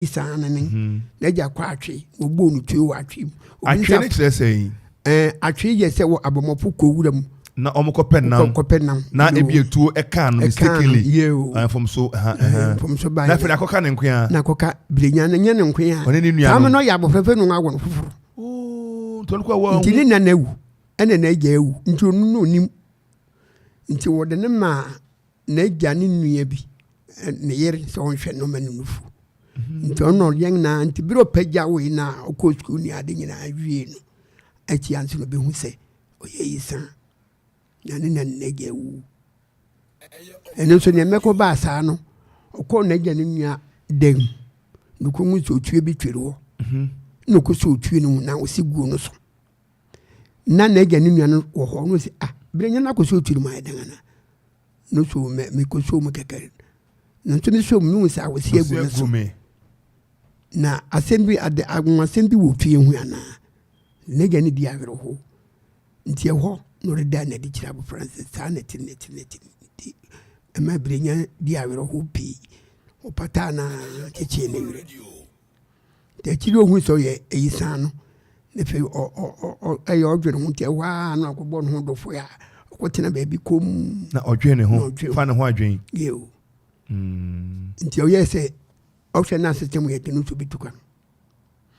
saa no ne mhm. n'agya kɔ atwe wɔbɔɔ no tue wɔ atwe mu atwe ne kyerɛ sɛ yi ɛɛ atwe yɛ sɛ wɔ abɔmmɔfo kɔ wura mu na wɔn kɔ pɛ nam kɔ pɛ nam na ebi etuo ɛka no mistakenly ɛfam so ɛfam so ba yɛ na afei akɔka ne nkoya na akɔka bilenya ne nye ne nkoya ɔne ne nua no saa mi na ɔyɛ abɔfɛfɛ no awɔ no foforo oh, nti ne nana ewu ɛna n'agya ewu nti ɔno na onim nti wɔde ne maa. n'agya ne nua bi ne yere sɛ ɔnhwɛ no ma no nufu mhm. nti ɔno ɔyɛ nyinaa nti bere ɔpagya wei no a ɔkɔ sukuu ne ade nyinaa wie no akyia nso no bɛhu sɛ ɔyɛ yi sa na ne na n'agya awu ɛno nso neɛ mɛkɔ baa saa no ɔkɔɔ n'agya ne nua dam na ɔkɔhu sɛ ɔtue bi twere hɔ mhm. na ɔkɔ sɛ ɔtue no mu na ɔsi guo no so na n'agya ne nua no wɔ hɔ no sɛ ah bere nyɛ no akɔ so tiri mu ayɛ dan ana no so mɛ mekɔ so mu kɛkɛ no nso me so mu no sɛ awɔsi agu no so na asɛm bi ade anwasɛm bi wɔ fie ho anaa n'agya ne di awerɛho nti ɛhɔ na ɔde da n'adi kyerɛ abɔfra no sɛ saa na ɛte na ɛte na ɛte nti ɛma bere nya di awerɛho pii ɔpataa na kyekyee ne werɛ Nti akyiri yi ohun sɛ ɔyɛ ayisaa no, na afei ɔ ɔ ɔ ɛyɛ ɔdwene ho nti ɛhɔ ara na ɔkɔbɔ ne ho dɔfo a ɔkɔtena baabi kɔm. Na ɔdwene ne ho fa ne ho adwene. Yeo. Mm. Nti ɔyɛ sɛ ɔhwɛ n'asetena mu yɛ de no nso bɛtu kwan.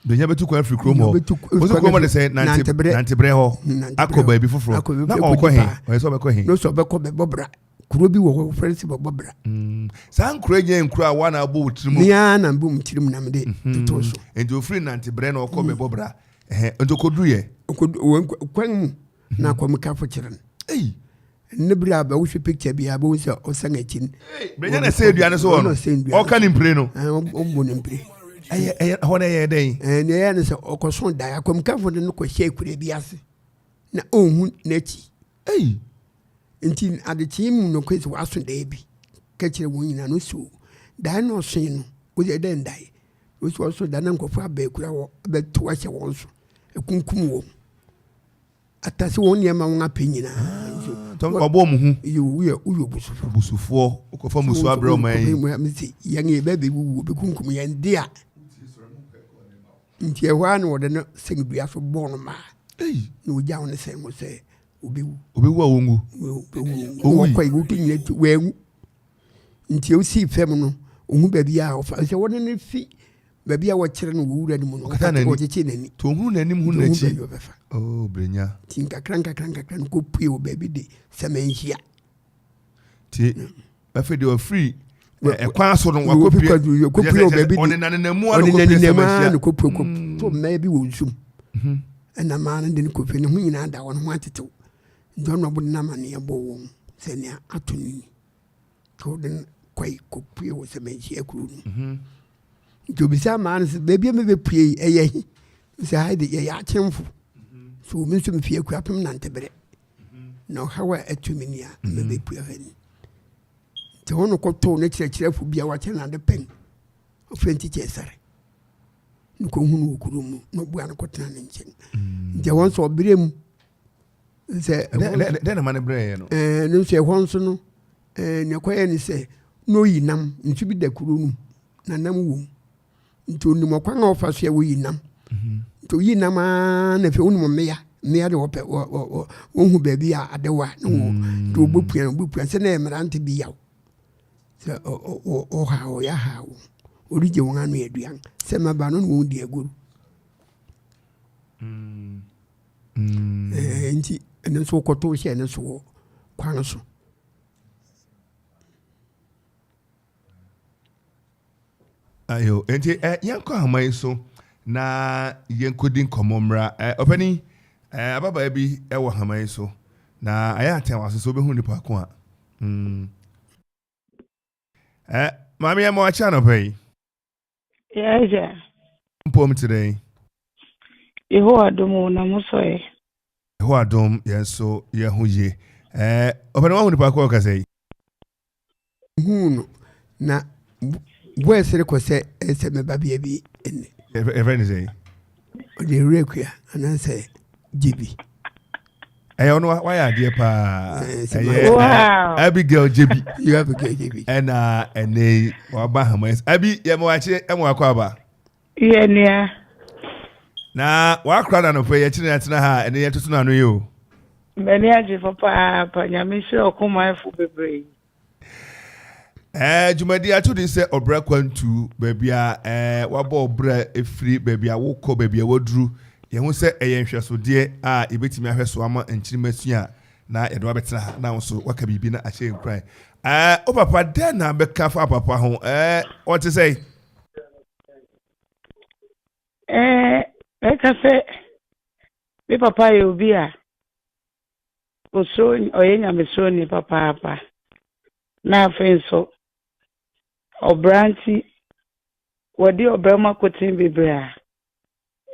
Bɛnya bɛtu kwan afiri kurom hɔ. Ɔsi kurom hɔ de sɛ nantebrɛ hɔ akɔ baabi foforɔ. Na ɔkɔ he? Ɔyɛ sɛ ɔbɛkɔ he? N'o sɛ ɔbɛkɔ bɛbɔ bra. kuro bi wɔ hɔ wɔfrɛ no sɛ bɛbɔbra mm. saa nkuro yi nyɛ nkuro a woa na abɔ wo tirim mea na mbɔ mu tirim na mede mhm. toto so nti ɔfiri nanteberɛ na ɔkɔ mm. bɛbɔbra nti ɔkɔduruyɛ kwan mu na mhm. kɔmekafo kyerɛ no ne bere a bɛwohwɛ picture bi a bɛhu sɛ ɔsan akyi no bɛnya na sɛ aduane so wɔ no ɔka ne mpire no ɔmmɔ ne mpire hɔ no ɛyɛ dɛn ne ɛyɛ ne sɛ ɔkɔso dae akɔmkafo no no kɔhyɛ akura bi ase na ɔnhu n'akyi Ei! Enti adekyee mu no koe sɛ wɔaso dae bi ka kyerɛɛ wɔn nyinaa no so dae no ɔsoe no, wɔsɛ dɛn dae? Wɔsɛ ɔso dae na nkurɔfo abɛɛ kura wɔ abɛtow ahyɛ wɔn so, akunkum wɔn, atase wɔn nneɛma wɔn apɛ nyinaa. ɔbɔ wɔn hu. woyɛ woyɛ obusufoɔ. obusufoɔ wokɔfa musuo abrɛ ɔman yi. yɛn yɛ bɛɛ bɛwuwu wɔbɛkunkum yɛn de a. Nti ɛhɔ ara na wɔde no sɛn dua so bɔɔ no maa, na wogyaw no sɛn hɔ sɛ obewu. Obewu a wongu. Wɔkɔe, wotu nyina tu, wanwu. Nti osii fam no, ohu baabi a ɔfa sɛ wɔde no fi baabi a wɔkyerɛ no wɔ wura no mu no, ɔkyekyee n'ani. To ohunu n'anim hu n'akyi. Oh, brenya. Ti nkakra nkakra nkakra no kopue wɔ baabi de sɛmɛ nhyia. Ti. afei deɛ ɔfiri ɛkwan so no wakɔpie ɔnenanenamua no kɔpie sɛ mahyia no kɔpue kɔ to mmaa bi wɔ nsum ɛna maa no de no kɔpie ne ho nyinaa da wɔn ho atetew nti ɔno ɔbo nam aneɛ bɔ wɔn sɛ nea ato no ni nti ɔde no kɔe kɔpue wɔ sɛ manhyia kuro no mhm. nti obisa maa no sɛ baabi a mebɛpue yi ɛyɛ he sɛ ha de yɛyɛ akyemfo mhm. so omi nso mefie akuapem nanteberɛ na ɔhaw a ɛto me ni a mhm. mɛbɛpue ha ni nti hɔ no kɔtoo ne kyerɛkyerɛfo bi a wakyɛ no ade pɛn ɔfrɛ nti kyɛ sare ne kɔhunu wɔ kuro mu na ɔbua no kɔtena ne nkyɛn mhm. nti ɛhɔ nso ɔberɛ mu sɛ dɛn na ma no berɛɛ no ne nso ɛhɔ nso no nea ɛkɔyɛ ne sɛ na ɔyi nam nso bi da kuro no mu na nam wɔ mu nti onim ɔkwan a ɔfa so a woyi nam mhm. nti oyi nam aa na afei wonim mmea mmea de wɔpɛ wɔhu baabi a adewa na wɔ mm. nti wɔbɛpua no wɔbɛpua sɛ na mmerante bi yaw sɛ ɔha ɔyɛ ha wo ɔregye wɔn ano aduan sɛ mmaba no na wɔn di agoru mm. mm. eh, nti ɛno nso wokɔto hyɛ no so wɔ kwan so ayo nti ɛ eh, yɛnkɔ ahoma yi so na yɛnkɔdi nkɔmmɔ mmra ɛ eh, ɔpani ɛ eh, ababaa bi wɔ ahoma yi so na ayɛ atɛn waso so wobɛhu nipa ko a mm. ɛ eh, maame yɛ ma wakyɛ anɔpa yi Yɛagya. Mpom te dɛn? Yehowa dom o, na mo nso ɛ? Yehowa dom, yɛn nso yɛn ho ye. Ɛɛ, ɔpɛ na wahu nipa ko a ɔkasa yi? Huu no, na voice no kɔ sɛ ɛsɛ me babea bi nne. Yɛfrɛ no sɛ? Ɔde Rebekah anaasɛ Gyebi. ɛyɛ ɔno wayɛ adeɛ paa ɛyɛ abigail jebi ɛna ɛnɛ yi waba hama ɛsɛ abi yɛ mo akyi ɛmo akɔ aba. yɛ nua. na wakora na nɔpɛ yɛ kyerɛ atena ha ɛne yɛ tutu n'ano yi o. mbɛni agyefo paapa nyame nhyira ɔkɔmanfo bebree. ɛɛ dwumadi ato din sɛ ɔbrɛ kwantu baabi a ɛɛ wabɔ ɔbrɛ efiri baabi a wokɔ baabi a waduru yɛn ho sɛ ɛyɛ nhwɛsodeɛ a yɛbɛtumi ahwɛ so ama nkyirima sua na yɛde wabɛtena ha na nso waka biribi na ahyɛ nkuran ɛɛ o papa dɛ na bɛka fa papa ho ɛɛ ɔte sɛ. ɛɛ ɛka sɛ me papa yɛ obi a Osuro, ɔyɛ Nyamesuroni papaapa, na afei nso, ɔbra nti, wadi ɔbra mu akoten bebree a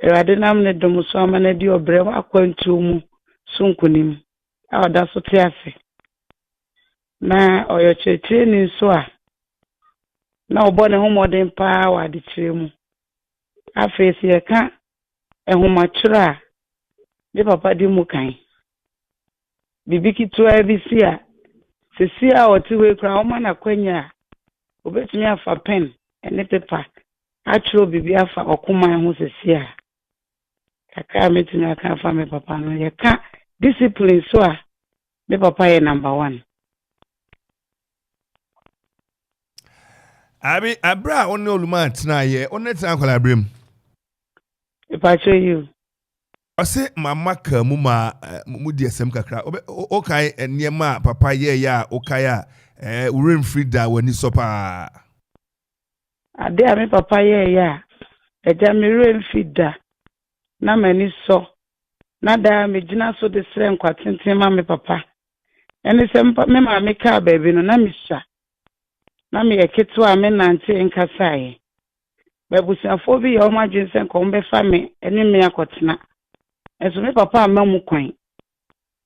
Awurade nam ne dom so ama no adi ɔbra mu akwantuo mu so nkunim a ɔda so te ase. Na ɔyɛ ɔkyerɛkyerɛni nso a na ɔbɔ ne ho mmɔden paa wɔ adekyerɛ mu. Afei sɛ yɛka nhomatwerɛ a, me papa di mu kan. Biribi ketewa bi si a, seesei a ɔte hɔ yi koraa, wɔma no akwanya a, ɔbɛtumi afa pɛn ne pepa atwerɛ biribi afa ɔkoman ho seesei a. Kakra a mɛtumi aka afa me papa no, yɛka discipline so a, me papa yɛ number one. Abi, abere a ɔne Oluma tena yɛ, ɔne tena akwadaa abere mu. Ìpàtó yìí o. Ɔsè màmá kàá mu ma eh, mo di ẹsẹm kakra. Ọkae nneɛma a papa yɛɛyɛ a ọkae a eh, wúrẹ́ mfiri da w'ani sọ paa. Ade a me papa yɛɛyɛ a ẹja me wúrẹ́ mfiri da na m'ani sọ na daa megyina so de srɛ nkwa tenten ma me papa Ɛne sɛ mpa me maame kaa baabi no, na misua. Ná meyɛ ketewa a menantee nkasaeɛ. M'abusuafoɔ bi yɛɛ wɔn adwene sɛ anka wɔbɛfa me ne me akɔtena, nanso me papa amma mu kwan.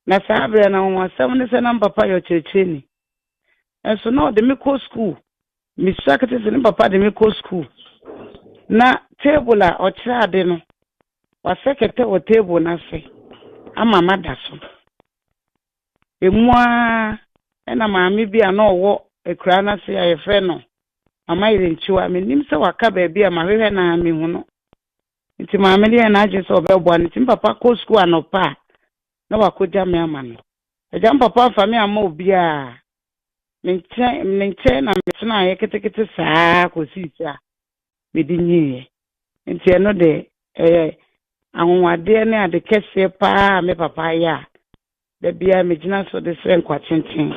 Ná saa berɛ no, anwanwasɛm ne sɛ na me papa yɛ ɔkyerɛkyerɛni. Nanso na ɔde me kɔ sukuu. Misua kete sɛ ne papa de me kɔ sukuu, na table a ɔkyerɛ ade no, wasɛ kɛtɛ wɔ table no ase ama mada so. Emu ara na maame bi a na ɔwɔ akuraa no ase a wɔfrɛ no Mama Yerenkyiwa, mennim sɛ waka baabi a mahwehwɛ no ara mehu no. Nti maame no yɛɛ n'adwene sɛ ɔbɛboa no, nti me papa kɔ sukuu anɔpa a, na wakɔgya me ama no. Agya me papa amfa me amma obiara. Me nkyɛn, ne nkyɛn na metenaeɛ ketekete saa ara kɔsii sɛ a mede nyiiɛ. Enti ɛno de, ɛyɛ anwonwadeɛ ne ade kɛseɛ pa ara a me papa ayɛ a da biara megyina so de srɛ nkwatenten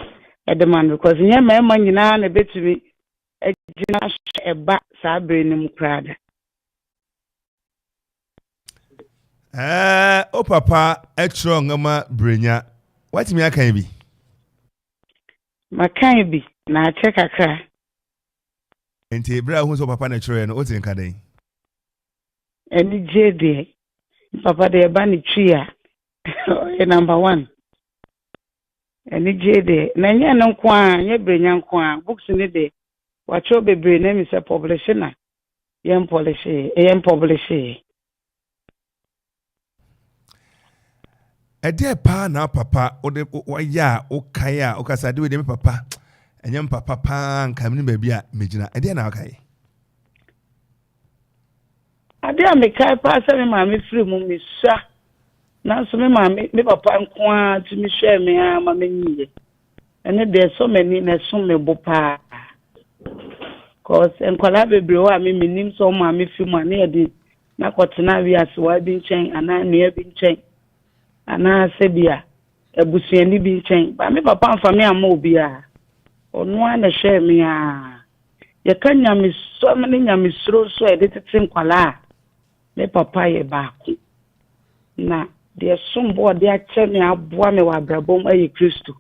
de ma no because nyɛ mmarima nyinaa na ɛbɛtumi agyina so ɛba saa berɛ no mu koraa da. Ɛɛ, o papa kyerɛ nwoma Brenya. Woatumi akan bi? Makan bi, na akyɛ kakra. Enti bere a ohuu sɛ ɔpapa na ɛkyerɛwee no, otee nka dɛn? Anigye deɛ, papa deɛ ɛba ne twi a, ɔyɛ number one. Anigye deɛ, na ɛnyɛ ɛno nko ara, ɛnyɛ Brenya nko ara. Books no deɛ, wɔakyerɛw bebree na ɛmi sɛ pɔblehye na yɛmpɔlehyeeɛ, yɛmpɔblehyeeɛ. Ɛdeɛn paa na papa wode wayɛ a wokae a wokasa de wede me papa ɛnyɛ me papa paa nka me ne baabi a megyina ɛdeɛn na wokae adeɛ a mekae paa sɛ me maame firi mu mesua nanso me maame me papa nko ara tumi hwɛɛ me ara ma menyiye ɛne deɛ ɛsɔ m'ani na ɛsom me bo paa cause nkwadaa bebree hɔ a me menim sɛ ɔmaame firi mu a ne yɛde na kɔtena wiasewaa bi nkyɛn anaa nua bi nkyɛn anaa sɛ bi a abusuani bi nkyɛn. Ba me papa amfa me amma obiara. Ɔno ara na ɛhwɛɛ me ara. Yɛka nyamesɔm ne nyamesuro nso a yɛde tete nkwadaa a, me papa yɛ baako. Na deɛ ɛsom bo a ɔde akyɛ me aboa me wɔ abrabɔ mu yɛ Kristo.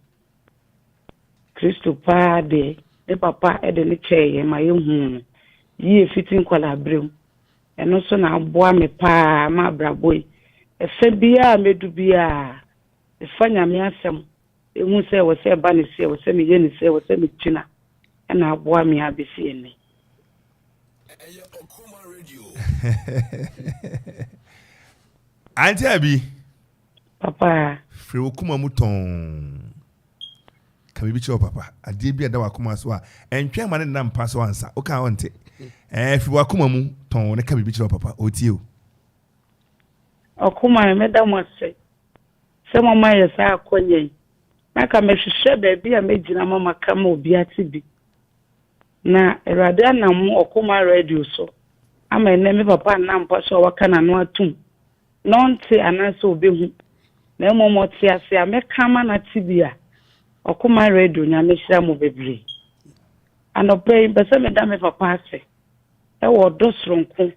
Kristo paa deɛ, me papa de no kyɛɛ yɛn ma yɛhuu no yie fiti nkwadaa berɛ mu. Ɛno nso na aboa me pa ara ma abrabɔ yi ɛfa biara a mɛdu biara mefa Nyame asɛm ɛhu sɛ ɛwɔ sɛ ɛba ne so, ɛwɔ sɛ meyɛ ne so, ɛwɔ sɛ megyina ɛna aboa me ara bɛsi ɛnnɛ. Auntie Abi. Papa. Firi wo kuma mu tɔn. Ka biribi kyerɛ wo papa. Adeɛ bi a ɛda w'akoma so a, ɛntwɛn ma ne nna mpa so ansa. Woka a ɔnte. Ɛɛ, fi w'akoma mu tɔnn na ka biribi kyerɛ wo papa. Ɔretie o. Akoma a, meda mo ase sɛ moama yɛ saa akwanya yi. Na ka mehwehwɛ baabi a mɛgyina ma maka ma obi ate bi. Na Awurade anam mo Ɔkoma Radio so ama ɛnnɛ me papa nna mpa so a waka n'ano atom na ɔnte anaa sɛ ɔbɛhu, na mmom ɔte ase a mɛka ama no ate bi a, Ɔkoma Radio Nyame hyira mo bebree. Anɔpa yi mpɛ sɛ meda me papa ase wɔ ɔdɔ soronko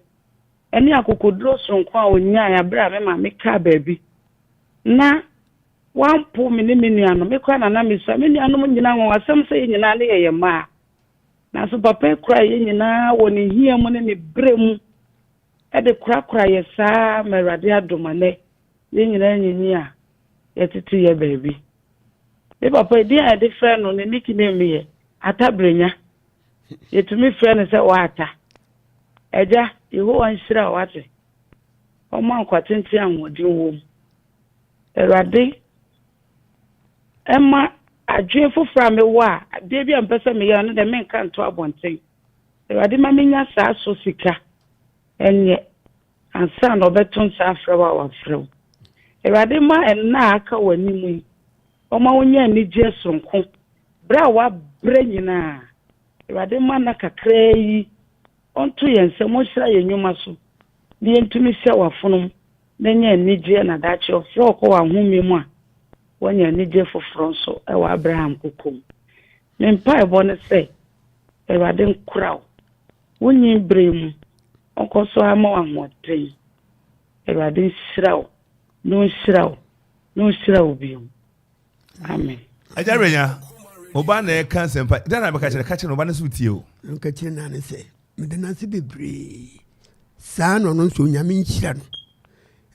ne akokoduro soronko a ɔnyae aberɛ a me maame kaa baabi na wampo me ne me nua no, me kora na na mesua me nuanom nyina ho asɛm sɛ yɛ nyinaa ne yɛyɛ mmaa. Nanso papa kura yɛ nyinaa wɔ ne hia mu ne ne berɛ mu. de korakora yɛ saa ara ma Awurade adom a nnɛ yɛn nyinaa anyinyin a yɛtete yɛ baabi. Me papa edin a yɛde frɛ no ne nickname yɛ Ata Brenya. Yɛtumi frɛ no sɛ Ɔata. Agya, Yehowa nhyira wo, wate? Ɔmma nkwa tenten a ahoɔden wom. Awurade mma adwene foforɔ a mewɔ a adeɛ bi a mepɛ sɛ meyɛ no ne deɛ menka nto abɔnten. Awurade ma menya saa so sika nyɛ ansa na ɔbɛto nsa afrɛ wo a wafrɛ wo. Awurade ma nna a aka w'anim yi ɔma wonya anigyeɛ soronko berɛ a woabrɛ nyinaa. Awurade ma nna kakraa yi ɔnto yɛn nsam ɔnhyira yɛn nnwuma so na yɛntumi hyɛ w'afonom na anya anigyeɛ na daakye ɔfrɛ wo kɔ w'ahome mu a woanya anigyeɛ foforɔ nso wɔ Abraham koko mu. Me mpaebɔ ne sɛ Awurade nkora wo wo nyin bere mu, ɔnkɔ so ara mma wo ahoɔden. Awurade nhyira wo na ɔnhyira wo na ɔnhyira wo bio. Amen. Agya Renya, mo ba na ɛka nsɛmpa. Dɛn na bɛka kyerɛ? Ka kyerɛ no, ɔba no nso tie o. Nka kyerɛ no ne sɛ, meda no ase bebree. Saa na ɔno nso Onyame nhyira no.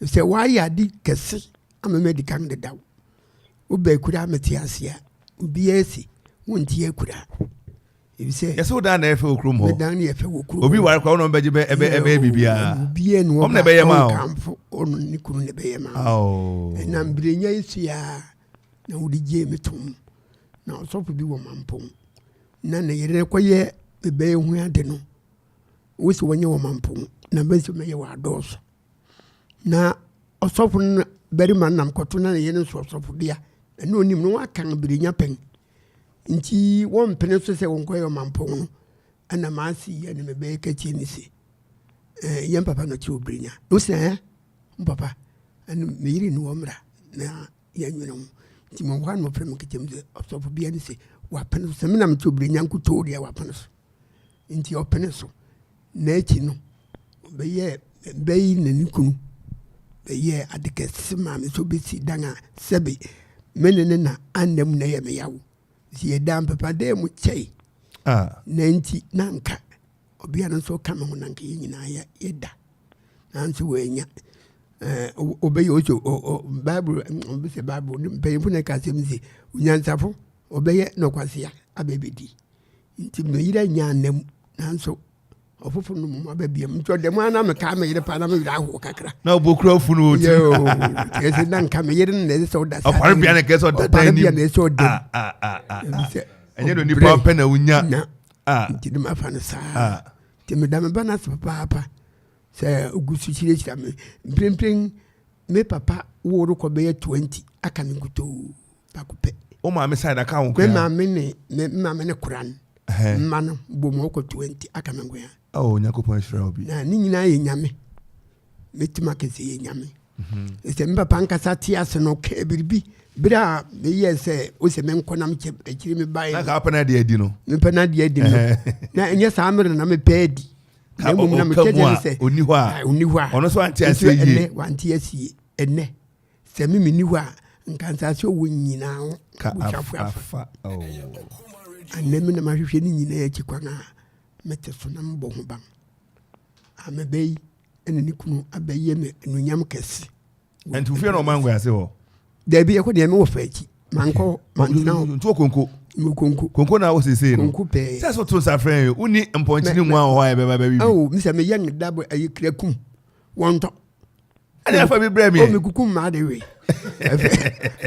Sɛ wayɛ ade kɛse ama me adi kan dedaw. Wo bɛ kura me te ase a obiara si wo nti akura. Ebisɛ. Yɛsɛ wo dan na ɛfɛ wɔ kurom hɔ. Me dan na ɛfɛ wɔ kurom. Obi ware kura wɔn bɛgye bɛ ɛbɛ ɛbɛ bibiara. Obiara na wɔn bɛ yɛma o. Ɔnkanfo ɔno ne kunu na bɛ yɛma o. Ɛna mbirenya yi so ya na wɔde gye me tom na ɔsɔfo bi wɔ mampɔn na ne yere kɔ yɛ bɛbɛyɛ ho ade no. Wosi wɔnyɛ wɔ mampɔn na bɛ nso mɛyɛ wɔ adɔɔso. na ɔsɔfo no na barima no nam kɔto na ne yere nso ɔsɔfobea ɛne onim no wɔaka no berenya pɛn nti wɔmpene so sɛ wɔnkɔyɛ ɔmampɔn no ɛna maase yi ɛne mebɛyɛ katie ne se eh, yɛn papa no te oberenya wo sɛ eh, papa ɛne meyere ne wɔ mmra na yɛnwene ho nti mɔwɔ a na ɔfrɛ me nketam sɛ ɔsɔfobea ne se wapene so sɛ menam te oberenya nkotoo deɛ wapene so Enti ɔpenee so, na akyi no ɔbɛyɛɛ bɛ yi na ne kunu bɛyɛɛ ade kɛse maa me sɛ obesi dan a sɛbe me ne ne na anna mu na ɛyɛ me yaw. Enti yɛdaa mpɛpadan mu kyɛe, na enti na anka ɔbea no nso reka me ho na anka yɛn nyinaa yɛda. Nanso wɔannya. Ɔbɛyɛ ɔsɛ Bible, ɔbɛsɛ Bible, mpanyimfo na ɛka asɛm sɛ onyansafo ɔbɛyɛ nɔkwasea abɛbɛdi. Nti me yere anya nna mu nanso ɔfoforo no mu aba biam nti ɔda mu ana metaa me yere paa na me werɛ ahoɔ kakra na ɔbɔkura afu no ɔti tiɛ sɛ na nka me yere no na ɛsɛ sɛ ɔda ɔpare bia na ɛkɛ sɛ ɔda dan nim ɔpare bia na ɛsɛ sɛ ɔda mu ah, ah, ah, sɛ ɛnyɛ no nipa ɔpɛ na wonya nti ne mafa no saa nti meda me ba no ase papaapa sɛ ɔgu so hyirahyira me mprempren me papa woro kɔ bɛyɛ 20 aka me nkutoo baako pɛ. o maame side aka ho koraa. me maame ne me maame ne koran mma no bɔ mu ɔkɔ twenty aka me nkoya. awo nyakopɔn ahyira obi. na ne nyinaa yɛ nyame mɛtumi aka sɛ yɛ nyame mhm. sɛ me papa nkasa te ase no ɔkaa biribi berɛ a meyɛ sɛ wo sɛ menkɔ na mekyɛ akyiri me baɛ na wopɛ no adeɛ adi no mepɛ no adeɛ adi no na ɛnyɛ saa mmerɛ na mepɛ adi na mmom na mekyɛ deɛ ne sɛ ɔni hɔ a ɔno so wante aseɛ yie ɛnɛ wante aseɛ ɛnɛ Sɛ me menni hɔ a, nka nsase ɔwɔ nyinaa ho busuafo afa. Anɛ me na mahwehwɛ ne nyinaa akyi kwan a mete so na mebɔ ho ban. A mɛbɛ yi ɛna ne kunu abɛyɛ me anuonyam kɛse. Ɛnti wofie na ɔma nkɔyase hɔ? Daabi yɛkɔ deɛ mewɔ fa akyi. Mankɔ mantena hɔ. Nti wɔ konko? Mewɔ konko. Konko na wɔ seesei no? Konko pɛɛ. Sɛ so to nsa frɛ yɛ, wonni mpɔnkye ne nwa wɔ hɔ a yɛbɛba bɛwe bi? Ao, mesɛ meyɛ ngeda bɔ ɛyɛ krakum. Wɔntɔ. ɛna afa bi brɛ meɛ mekuku mmaa de we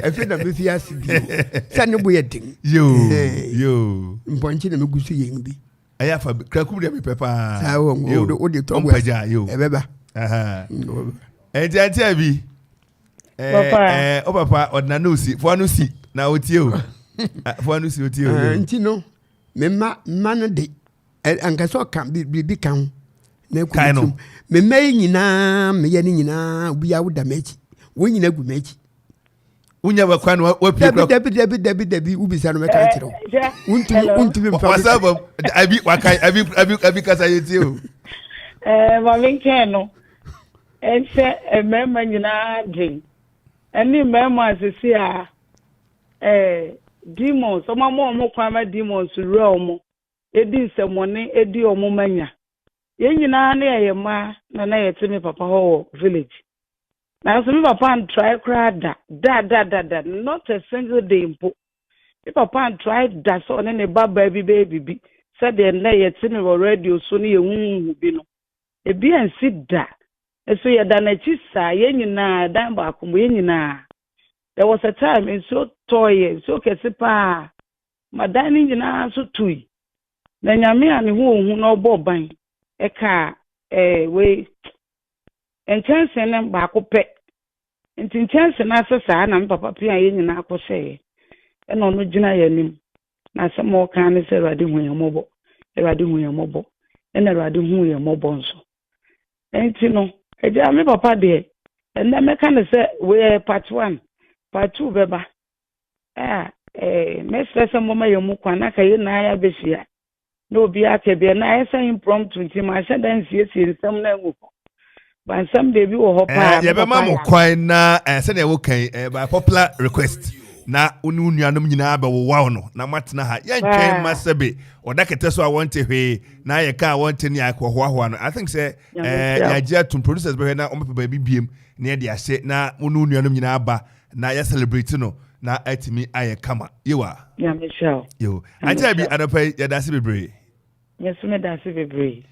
ɛfɛ na mefi ase bi sɛ ne bo yɛ den mpɔnkye na megu so yɛn bi ɛyɛ afa bi krakum deɛ mepɛ paa wode tɔ mpagya ɛbɛba ɛnti antia bi wo papa ɔdena ne osi foa no si na otie o foa no si otie o nti no mema mma no de anka sɛ ɔka biribi ka ho na ɛkɔ ne tirim mema yi nyinaa meyɛ ne nyinaa obiaa woda m'akyi wɔn nyina gu m'akyi wonya bɛkwa no wapie kura dabi dabi dabi dabi wobisa no mɛka nkyerɛ wo wontumi wontumi mfa wasa ba abi waka abi abi abi kasa yɛ tie o ɛɛ maame nkɛn no ɛsɛ mmarima nyinaa den ɛne mmarima asese a ɛɛ demons ɔmo ama ɔmo kwan ma demons wura ɔmo di nsɛmmɔne di wɔn mma nya. Yɛn nyinaa na yɛyɛ mma na na yɛte me papa hɔ wɔ village. Nanso me papa antrae koraa da, da, da, da, da, not a single day mpo. Me papa antrae da sɛ ɔne ne ba baa bi bɛyɛ biribi sɛdeɛ nnɛ yɛte me wɔ radio so ne yɛhuhuhu bi no. Ebi ansi da. Nso yɛda n'akyi saa, yɛn nyinaa, ɛdan baako mu, yɛn nyinaa. There was a time nsuo tɔɔ yɛn, nsuo kɛse paa. ma dan no nyinaa nso tui, na Nyame a ne ho ɔhu na ɔbɔɔ ban kaa eh wei nkyɛnse no baako pɛ, nti nkyɛnse no ase saa na me papa pia yɛn nyinaa kɔhyɛeɛ, ɛna ɔno gyina yɛn anim, na asɛm a ɔkaa ne sɛ, Awurade hu yɛn mmɔbɔ, Awurade hu yɛn mmɔbɔ, ɛna Awurade huu yɛn mmɔbɔ nso. Nti no, agya me papa deɛ, ɛnnɛ mɛka no sɛ wei ɛyɛ part one, part two bɛba. Ah eh, mɛsrɛ sɛ moma yɛn mu kwan na ka yɛn nyinaa abɛhyia na obi aka bi na ayɛ sɛ impromptu nti manhyɛ da nsiesie nsɛm no angu hɔ ba nsɛm deɛ bi wɔ hɔ paa eh, yɛbɛma mo kwan na eh, sɛdeɛ woka yi eh, by popular request na wo ne wo nuanom nyinaa bɛwowaw no na moatena ha yɛntwɛn ma sɛbe ɔda kɛtɛ so a wɔnte hwee na yɛka a wɔnte ne akɔhoahoa no i think sɛ eh, yɛagye atom producers bɛhwɛ na wɔbɛpɛ baabi biem na yɛde ahyɛ na wo ne wo nuanom nyinaa ba Na yɛ celebrate no na atumi ayɛ kama. Yewa. Nyame hyira wo. Yo. Auntie Abby anɔpa yi yɛda ase bebree. Me so meda ase bebree.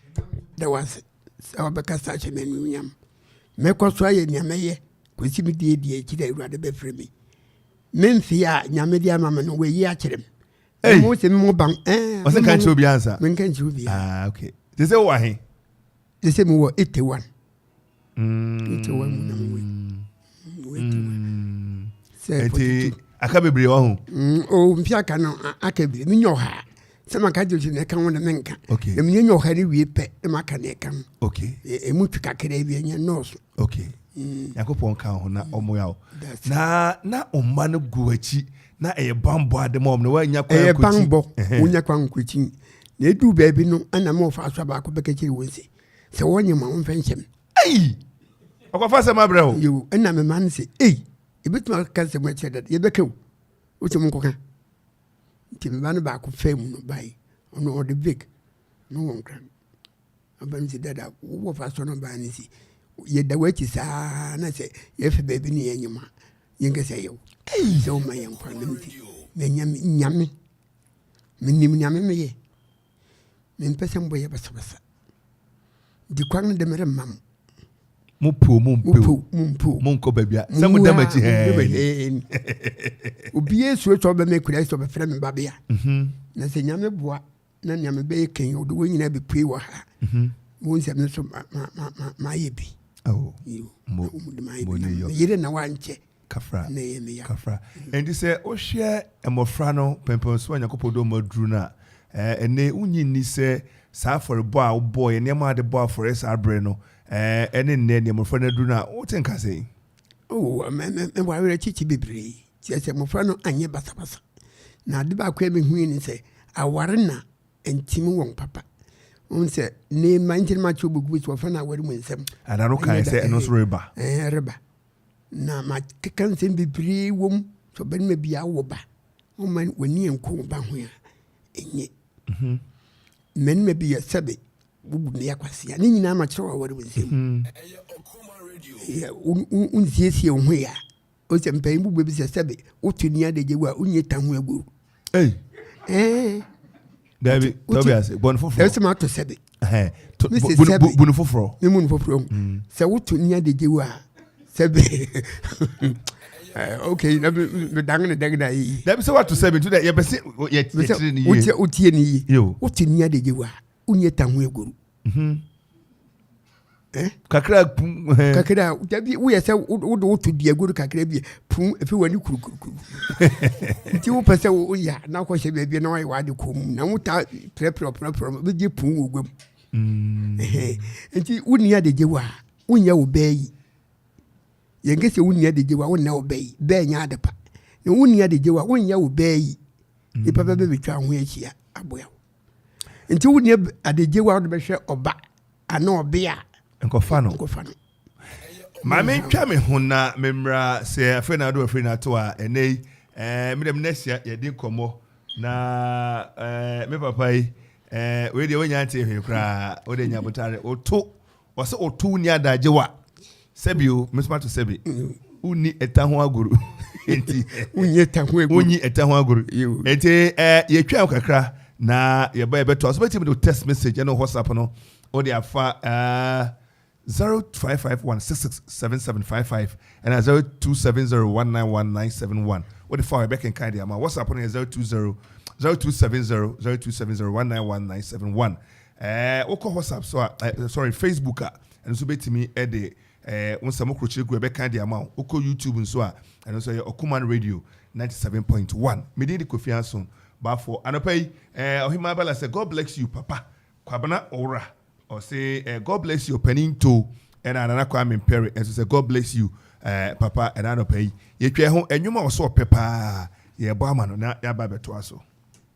Da wase sɛ wabɛkasa ahyɛ me anuonyam. Mɛkɔ so ayɛ nea mɛyɛ kɔsi me die deɛ akyi dɛ Awurade bɛfrɛ me. Me mfe a Nyame de ama me no wayi akyerɛ me. Hey. Mo se mo ban. Eh. Ɔsɛ nka nkyerɛ obi ansa. Menka nkyerɛ obi. Ah, okay. Te sɛ wɔ he? Te sɛ mo wɔ 81. nti aka bebree wɔ ho mm, o mfi aka no aka bebree menyɛ ɔhaa sɛ maka gye na ɛka ho na menka na menyɛ nyɛ ɔha no wie pɛ na maka na ɛka ho ɛmu twe kakraa bi ɛnyɛ nnɔɔso mm. nyankopɔn ka ho na ɔmoa wo na na ɔma no gu akyi na ɛyɛ bambɔ ade ma ɔm na woanya kwan ɛyɛ bambɔ wonya kwan nkɔkyi na ɛduu baabi no ɛna ma ɔfa so baako bɛka kyiri wɔ nse sɛ wɔnyɛ ma wɔmfɛ nhyɛ me ei ɔkɔfa sɛm abrɛ o yo ɛna mema no sɛ ei ɛbɛtumi aka sɛm akyerɛ dada yɛbɛka o wosɛ mo nkɔka nti meba no baako fɛ mu no bae ɔno ɔde vik no wɔ nkra aba no sɛ dada wowɔ fa sɔ no baa no si yɛda w'akyi saa na sɛ yɛfɛ baabi ne yɛnyɛ ma yɛnkɛ sɛ yɛwo sɛ woma yɛnkwa no nti na nyame menim nyame meyɛ Mempɛ sɛ mobɛyɛ basabasa. Di kwan no de meremma mo. Mopow mompew, mompew, monkɔ baabi a sɛ moda m'akyi hɛn. Obiara suro sɛ ɔbɛma akura sɛ ɔbɛfrɛ me babea. Mhm. Na sɛ Nyame boa na nea mebɛyɛ kan ɔde wɔn nyinaa bɛpue wɔ ha. Mhm. Wɔn nsɛm nso mayɛ bi. Meyere na wankyɛ. kafra kafra nti sɛ wohwɛ mmɔfra no pɛmpɛn so a nyankopɔn dɔ mu aduru no a ɛɛ ɛnɛ wonyi nni sɛ saa afɔrebɔ a wobɔ yɛ nneɛma a de bɔ afɔre saa berɛ no ɛɛ ɛne nnɛ nneɛ mmɔfra no aduru no a wote nka sɛ oh mɛ mɛ mɛ wɔawerɛ kyekye bebree kyerɛ sɛ mmɔfra no anyɛ basabasa na ade baako a mehui ne sɛ aware na ntim wɔn papa n sɛ ne ma nkyɛn ma kyerɛ bɛgu so ɔfa no aware mu nsɛm ana no kae sɛ ɛno nso reba reba Na makeka nsɛm bebree wɔ mu sɛ ɔbarima bi awo ba ɔma w'ani nko ba ho a ɛnyɛ mhm. mmarima bi yɛ sɛbe wobu mmea kwasea ne nyinaa makyerɛ waware wo nsɛm mhm. wonsiesie wo ho yɛ a ɔsɛ mpanyin bu bɛbi sɛ sɛbe woto ni adagye wo a wonyɛ ta ho agoru Hey. Eh. Dabi, Tobias, bɔn foforɔ. Ɛsɛ ma to sɛbi. Mi se sɛbi. Bunu foforɔ. Mi bunu foforɔ mu. Mm. Sɛ wotu ni adegye wa sɛbi. Okay, na mi dangi ni dangi na yi. Dabi sɛ watu sɛbi tu dɛ yɛ bɛ se yɛ tiri ni ye. Wotie ni ye. Wotu ni adegye wa, wunye tanhu egoro. Hmm. Eh? kakra pum eh. kakra dabi woyɛ sɛ wode woto duago no kakra bi pum ɛfei w'ani kurukurukuru nti wopɛ sɛ woya na wokɔhyɛ baabi na woayɛ w'ade kɔ mu na wota prɛprɛ ɔprɛprɛ no bɛgye pum wɔ gua mu mm. nti wonni adegye wo a wonyɛ wo bɛɛ yi yɛnkɛ sɛ wonni adegye wo a wonnɛ wo bɛɛ yi bɛɛ nyɛ ade pa na wonni adegye wo a wonyɛ wo bɛɛ yi mm. nipa bɛbɛbɛtwa ho ahyia aboa wo nti wo deɛ adagye wa wode bɛhwɛ ɔba ana ɔbea nkɔfa no nkɔfa no maame ntwa me ho na memmra sɛ afei na ado afei na ato a ɛnɛ yi ɛɛ me dɛm nɛsia yɛde nkɔmmɔ na ɛɛ me papa yi ɛɛ wei deɛ wonya nte hwee koraa wode nya botare woto Ɔsɛ ɔto wonni adagye wa. Sɛbi o, me nso mato sɛbi. Wonni ɛta ho agoru. Enti. Wonni ɛta ho agoru. Wonni ɛta ho agoru. Enti eh, yɛtwa wo kakra na yɛba yɛbɛtoa so. Bɛtumi de wo text message ne wo WhatsApp no wode afa uh, 0551667755 ɛna 0270191971 wode fa yɛbɛkenkan de ama. WhatsApp no yɛ 020 0270 0270 191971 Ɛɛ wokɔ WhatsApp so a, ɛ, sorry, Facebook a, ɛno nso bɛtumi de ɛɛ wo nsɛm korokyere gu ɛbɛka de ama wo. Wokɔ YouTube nso a, ɛno nso ɛyɛ Ɔkuman Radio 97.1. Me din de Kofi Anso Bafoɔ. Anɔpa yi, ɛɛ Ɔhemaa Bala sɛ God bless you papa, Kwabena Owura ɔse ɛɛ God bless you Ɔpanin Too, ɛna Nana Kwame Mpere nso sɛ God bless you ɛɛ papa. Ɛna anɔpa yi, yɛtwa ɛho ɛnwom a ɔso ɔpɛ paa, yɛrebɔ ama no na yɛaba abɛtoa so.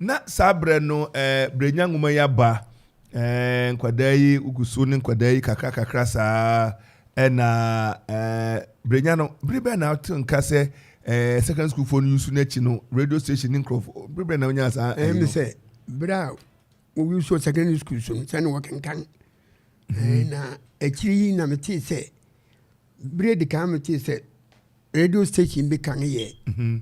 Na saa berɛ no eh, berɛ nya nwoma yi aba eh, nkwadaa yi wogu so ne nkwadaa yi kakra kakra saa ɛna eh, berɛ nya no bere bɛn na wote nka sɛ eh, secondary school foɔ no yusu no akyi no radio station ne nkurɔfoɔ bere bɛn na wonya saa ɛyi no sɛ berɛ a wɔwusuo secondary school so no sɛ ne wɔkenkan mhm. na akyiri yi na metee sɛ berɛ de kan metee sɛ radio station bi kan yɛ mhm.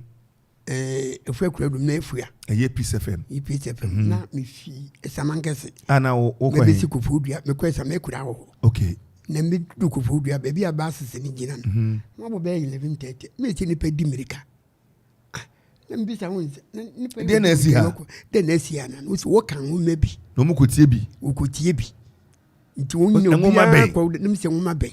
Eh, efua kura dum na efua. Ɛyɛ peace fm. Yi peace fm. Mm. Na mi fi ɛsama nkɛse. Ana wo wo kɔ he. Mɛbɛsi kofoɔ dua mɛkɔ ɛsama ekura wɔ hɔ. Okay. Na mi du kofoɔ dua baabi a baasisi ni gyina no. Mm-hmm. Wɔn abɔ bɛyɛ eleven thirty mi esi nipa di mirika. Ah, na mi bisa wɔn sɛ na nipa yi. Deɛ na esi ha. Deɛ na esi ha na no so wɔka ho mɛ bi. Na wɔn kɔ tie bi. Wɔn kɔ tie bi. Nti wɔn nyɛ obiara kɔ na mi sɛ wɔn ma bɛn.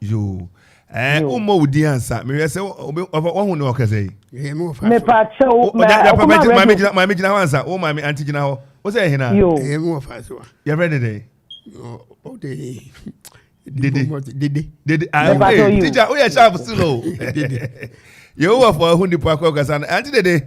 yoo ɛɛ eh, wommɔ wo din ansa mehwɛ sɛ woahu ne ɔkɛsɛ yi mepa kyɛ wo maame gyina hɔ ansa wo maame ante gyina hɔ wo sɛ ɛhena yɛfrɛ ne dɛn dede dede dede ah okay teacher woyɛ sharp still o yehowa fo ahu nipa akɔ kasa no ante dede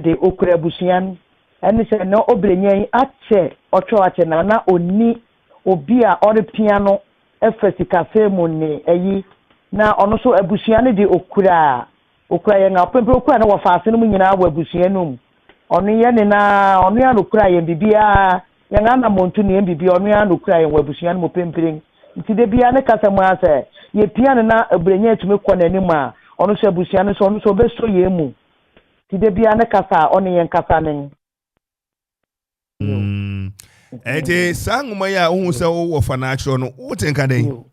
de okura abusua no ɛne sɛ na obrenyaa yi akyɛ ɔtwɛw akyɛ na na onni obi a ɔrepia no fa sikasɛm mu ne ayi na ɔno nso abusua no de okura okura yɛn a ɔpempere okura no wɔ faase no mu nyinaa wɔ abusua no mu ɔno yɛ ne na ɔno ara na okura yɛn biribiara yɛn anamɔntu ne yɛn biribi ɔno ara na okura yɛn wɔ abusua no mu pemperen nti da biara ne kasa mu ara sɛ yɛpia no na obrenyaa tumi kɔ n'anim a ɔno nso abusua no nso ɔno nso ɔbɛsɔ yɛn mu Nti da biara ne kasa a ɔne yɛn kasa ne no. Ɛnti mm. saa nwoma yi a wohu sɛ wowɔ fa no akyerɛ no wote nka dɛn?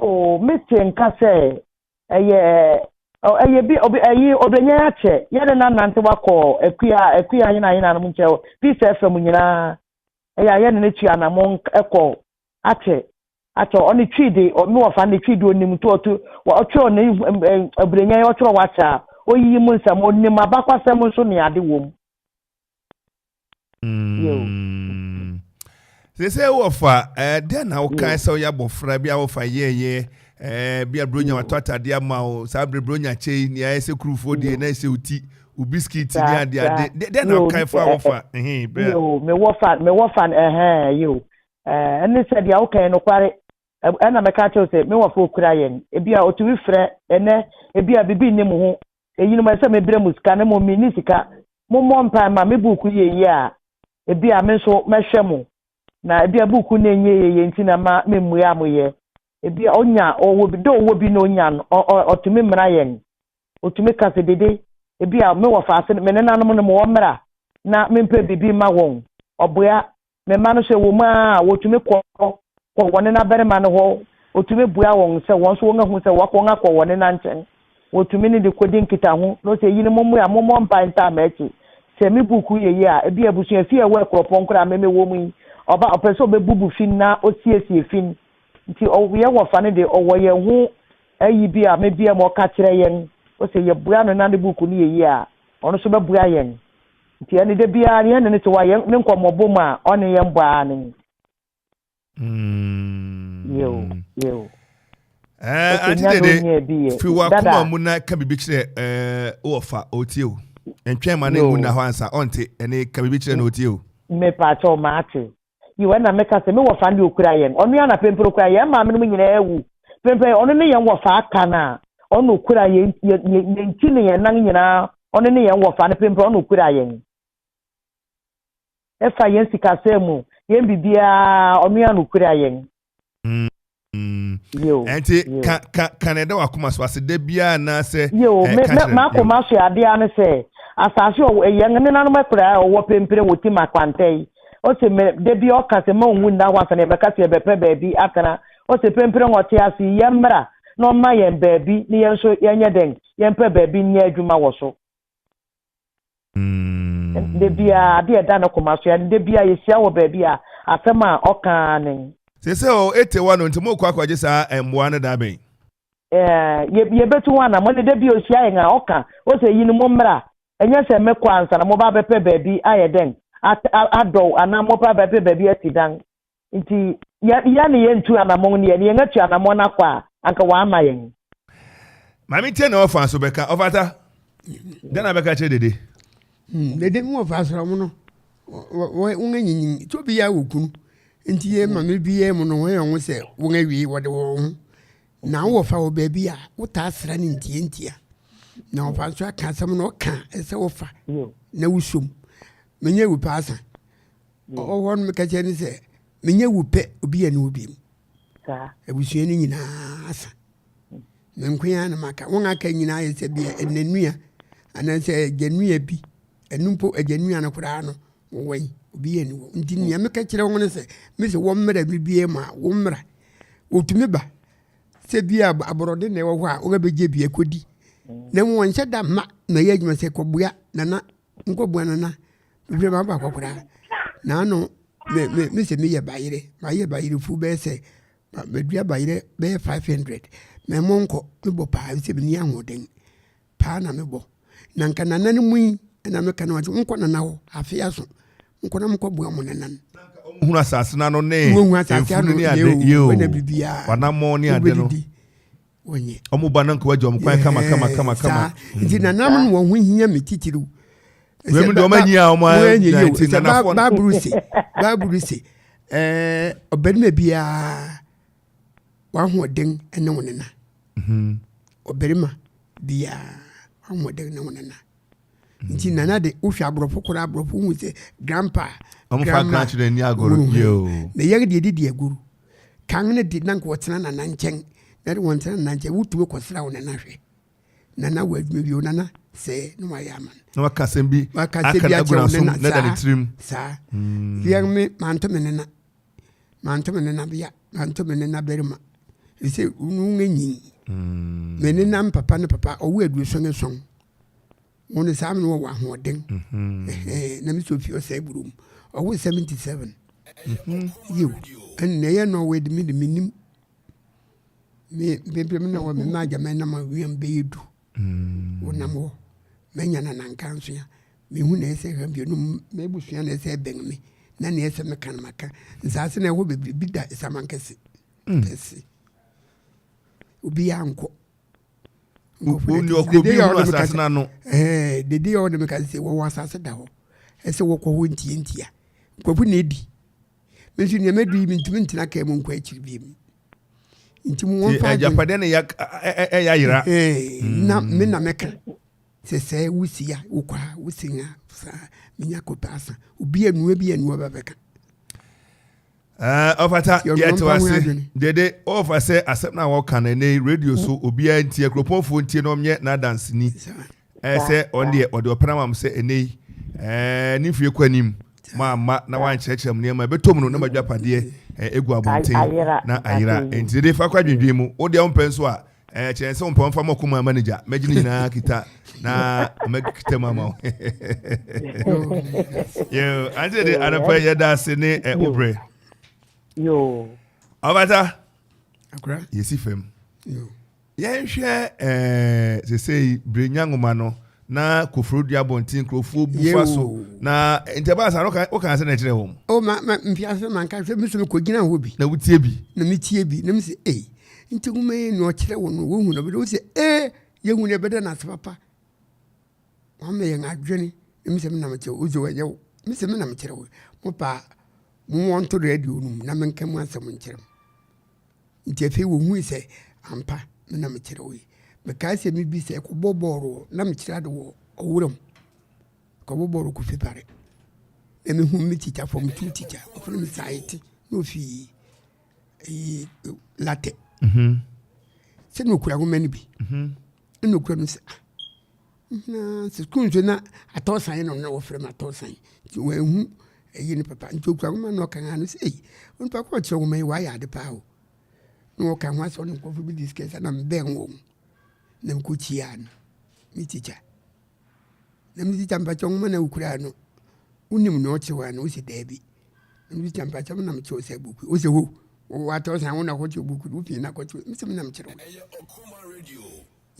Oh, mete nka sɛ ɛyɛ ɛyɛ bi ɔbɛ ɛyi ɔbɛnya akyɛ yɛ ne nanante wakɔ akua akua ayena ayena no mu nkyɛn peace fm nyinaa ɛyɛ ayɛ ne ne tua na mo ɛkɔ Akyɛ akyɛ ɔne twi de ɔme wɔfa ne twi de onim to ɔto ɔtwerɛ ne aburenyan ɔtwerɛ wakyɛ a ɔyiyi mu nsɛm ɔnim abakwasɛm nso ne ade wɔm. Sese wɔfa dɛn na wokae sɛ woyɛ abɔfra bi a wɔfa yɛɛyɛ bi a buronya watɔ atadeɛ ama wo saa berɛ buronya kyɛ yi nea ayɛ sɛ kurufoɔ deɛ na ɛsɛ oti wo biskit ne adeade dɛn na wokae fa wɔfa mewɔfa mewɔfa ɛhɛn yeo Ɛɛ, ɛne sɛ deɛ woka yɛ nokware. Ɛna mɛka akyerɛ wo sɛ me wɔfoɔ kura yɛn. Ebia ɔtumi frɛ ɛnnɛ, ebia biribi nni mo ho. Eyinom ɛsɛ sɛ mebrɛ mo sika, na mmom menni sika. Mommɔ mpae mma me buuku yɛ yie a, ebia me nso mɛhwɛ mo. Na ebia buuku no nyɛ yie yɛ nti na mma memmue a moyɛ. Ebia ɔnya, ɔwɔ bi, dɛ ɔwɔ bi na ɔnya no, ɔ, ɔ, ɔtumi mmra yɛn. Ɔtumi ka sɛ, Dede, ebia me wɔfaase no, me nenanom no mewɔ mmra na mempɛ biribi mma wɔn. Ɔboa, me mma no sɛ wɔn mu a wɔtumi kɔ kɔ wɔn nenabarima no hɔ, ɔtumi bua wɔn sɛ wɔn nso wɔahu sɛ wɔakɔ wɔn akɔ wɔn nena nkyɛn, wɔtumi ne no kɔdi nkitaho, na ɔsɛ eyinom mmua, mommɔ mpae ntaa m'akyi. Sɛ me buku yɛ yie a, ebia abusua fi a ɛwɔ akuropɔn koro a me mewɔ mu yi, ɔba a ɔpɛ sɛ ɔbɛbubu fi no na ɔsiesie fi no nti, ɔwɔ yɛn wɔfa no de, ɔwɔ yɛn ho ayi bi a mebia mu, ɔka kyerɛ yɛn, ɔsɛ yɛbua no na ne buku no yɛ yie a, ɔno nso bɛbua yɛn. Nti ɛne da biara no yɛne no te hɔ a yɛn ne nkɔmmɔbɔ mu a ɔne yɛn bɔ ara ne. Yeo, yeo. Ɛɛ, ante dede, firi wakoma mu na ka biribi kyerɛ ɛɛ wɔfa ɔtie o. Ntwɛn ma ne mu na hɔ ansa ɔnte ɛne ka biribi kyerɛ na ɔtie o. Mepatɔ ɔma ate. Yiw, ɛnna meka sɛ, Me wɔfa no de okura yɛn. Ɔno ara na mprempren okura yɛn. Yɛn maamenom nyinaa awu. Mprempren ɔno ne yɛn wɔfa aka no a ɔno na okura yɛn, yɛn ti ne yɛn nan nyinaa. Ɔno ne yɛn wɔfa no. Mprempren ɔno na okura yɛn. Ɛfa yɛn sikasɛm mu, yɛn biribiara, ɔno ara na okura yɛn. ɛnti ka na ɛda wakoma so ase da biara anaasɛ makoma so adeɛ ne sɛ asase yɛn nenanom akura a ɔwɔ pempere wɔ tim akwantɛ yi ɔsɛ mɛ da bi ɔka sɛ ma ɔnwu nna hɔ asane ɛbɛka sɛ yɛbɛpɛ baabi atena ɔsɛ pempere hɔ te ase yɛn mmra na ɔma yɛn baabi ne yɛn nso yɛnyɛ dɛn yɛmpɛ baabi nyɛ adwuma wɔ so Da biara, ade a ɛda ne koma so ara ne, da biara yɛhyia wɔ baabi a, asɛm a ɔka ara ne. Seesei o, ete hɔ no, nti morekɔ akɔgye saa mmoa no da bɛn? Ɛɛ, yɛbɛtu ho anammɔn de, da bi a ɔhyia yɛn a, ɔka, ose, Eyinom mommra, ɛnyɛ sɛ mekɔ ansa na moba abɛpɛ baabi ayɛ dɛn? Adɔw anaa moba abɛpɛ baabi asidan. Nti yɛn yɛn ne yɛn ntu anamɔn ne yɛn yɛn atu anamɔn akɔ a anka wama yɛn. Maame tie na ɔfa nso bɛka ɔfata dɛn na bɛka kyerɛ dede. Hmm, dede mu ɔfa asra mu no wɔn anyinyin tí obi yɛ wɔ kunu nti yɛ maame bi yɛ mu no wɔn yɛ wɔn sɛ wɔn awie wɔde wɔn ho na wɔfa wɔ baabi a wotaa asra ne ntia ntia na wɔfa nso aka asɛm na ɔka ɛsɛ wɔfa na wosom menyɛ wu paasa. Ɔwɔ hɔ no meka kyerɛ no sɛ menyɛ wo pɛ obi yɛ ne wo biom. Abusua no nyinaa asa. Hmm. Me nko ara na maka. Wɔn aka nyinaa yɛ sɛ bi ɛnanua anaasɛ agyanua bi. Ɛno mpo agyanua no koraa no wɔwɔ yi obi yɛ ne wɔ. Nti nea hmm. meka kyerɛ wɔn no sɛ me sɛ wɔn mmra me bie mu a wɔn mmra. Wɔtumi ba sɛ bi a aborɔde na ɛwɔ hɔ a wɔbɛgye bi akɔdi. Hmm. Na wɔnhyɛ da mma na ɛyɛ adwuma sɛ kɔboa nana nkɔboa no na mehwɛ ma baako koraa na ano me sɛ meyɛ bayerɛ mayɛ bayerɛfu bɛyɛ sɛ madua bayerɛ bɛyɛ 500 mɛmɔ nkɔ mebɔ paa sɛ menni ahoɔden paa na mebɔ na nka nana no mu yi na meka no ase nkɔ nana hɔ afe aso nkɔ na mokɔboa mo nanan hunu asase no ano ne mfunu ne ade yeo wanamɔ ne ade no wɔnyɛ ɔmo ba nanka wagya ɔmo kwan kama kama kama kama nti nanam no wɔn ho hia me titiriw wɛmu deɛ ɔmo anyi a ɔmo anyi yɛ nti nanafoɔ no baabulu se baabulu se ɛɛ ɔbarima biara wahoɔden ne wo nena ɔbarima biara wahoɔden ne wo nena nti mm. nana de wohwɛ aborɔfo koraa aborɔfo hu sɛ grandpa grandma na yɛn deɛ didi agoru kan ne de na nka wɔtena nana nkyɛn na de wɔn tena nana nkyɛn wotumi kɔsra wo nana hwɛ nana wɔ adwuma bi o nana sɛ na wayɛ ama na waka asɛm bi waka asɛm bi akyɛ wo nana saa saa mm. yɛn me manto me nana manto me nana bea manto me nana barima ɛsɛ wo nyi mm. me nana papa ne papa ɔwo aduoson ne sɔn wɔn no saa mene wɔwɔ ahoɔden mhm. na mesɛ ofie ɔsɛe buro mu ɔwo 77 mhm. yiw ɛnna ɛyɛ no ɔwɔ de me de menim me mpempem na wɔ me ma agya mɛ nam awiam bɛyɛ du mm. wonam hɔ mɛnya na nanka nso ya mehu na ɛsɛ hwɛ mmienu mɛbusua na ɛsɛ bɛn me na na ɛsɛ meka no maka nsaase na ɛhɔ bebree bi da ɛsaman kɛse mm. kɛse obiara nkɔ wɔfrɛ no ɔkɔ bi wɔ asase no ano ɛɛ dede a ɔne meka sɛ wɔwɔ asase da hɔ ɛsɛ wɔkɔ hɔ ntie ntia nkurɔfo na edi me nso nneɛma du yi mentumi ntena kaa mu nkɔ akyiri bi mu nti mu wɔn fa agye agyapadeɛ na ɛyɛ ɛyɛ ayera mm. na me na meka sɛ sɛ wosi a wokɔ a wosi a saa menya kɔpɛ asa obi anua bi anua bɛbɛka ɔfata yɛte wase dede ɔfa sɛ asɛm no a wɔka no ɛnɛ radio so obiara ntie kuropɔnfoɔ ntie na ɔnyɛ n'adanseni ɛɛ sɛ ɔn deɛ ɔde ɔpɛ no ma m sɛ ɛnɛ yi ɛɛ ne mfie kɔ anim mamma na wankyerɛkyerɛ m nneɛma ɛbɛtɔ mu no na madwapadeɛ ɛgu abɔnten na ayera nti dede fa kɔ adwendwen mu wodeɛ wompɛ nso a ɛɛ kyerɛ sɛ ɔmpɛ ɔmfa mɔko ma ama ne gya mɛgye ne nyinaa kita na mɛkita mu ama wo yo ante de anapa yɛda ase ne ɛ wobrɛ yo ɔbata yɛsi fam yɛnhwɛ ɛɛ sesei bere nya nwoma no na koforo dua abɔnten nkurɔfoɔ bu fa so na nti ɛbaa saa no wokaa sɛ na ɛkyerɛ wɔn o ma ma mfiase ma nka sɛ mesu mekɔgyina hɔ bi na wotie bi na metie bi na mesɛ ei nti nwoma yi na ɔkyerɛ wo no wohu no bɛdɛ wosɛ ee yɛhu no ɛbɛdɛ no ase papa wama yɛn adwene na mesɛ menam kyerɛ wo sɛ wɔnyɛ wo mesɛ menam kyerɛ wo mo paa mo wɔnto radio no mu na menka mu asɛm nkyerɛ m Nti afei wɔhui sɛ ampa me na mekyerɛw yi. Mekae sɛ me bi sɛ kɔbɔ bɔɔl wɔ, na mekyerɛ ade wɔ ɔwuram. Kɔbɔ bɔɔl wɔ Kofi Pare. Na mehu me tikya, fam tu tikya, ɔfrɛ me Saete, na ofi ɛyi Latɛ. Mhm. Sɛ na okura nwoma no bi. Mhm. Na okura no sɛ ah, Na sukuu nso na atɔsan no na wɔfrɛ no atɔsan nti wɔanhu ɛyi no papa nti okura nwoma na ɔkan ano sɛ ei onipa kɔ ɔkyerɛ nwoma yi wayɛ ade paa o na wɔkan ho asɛ ɔne nkurɔfo bi discuss na mebɛn wɔn na mekɔkyia no me tikya na me tikya mpakyɛ nwoma na wokura no wonim na ɔkyerɛw ano wosɛ daabi na me tikya mpakyɛ na mekyerɛw sɛ buku wosɛ ho wɔwɔ atɔsan wo na kɔkyerɛ buku no wofii na kɔkyerɛ mesɛ me na mekyerɛw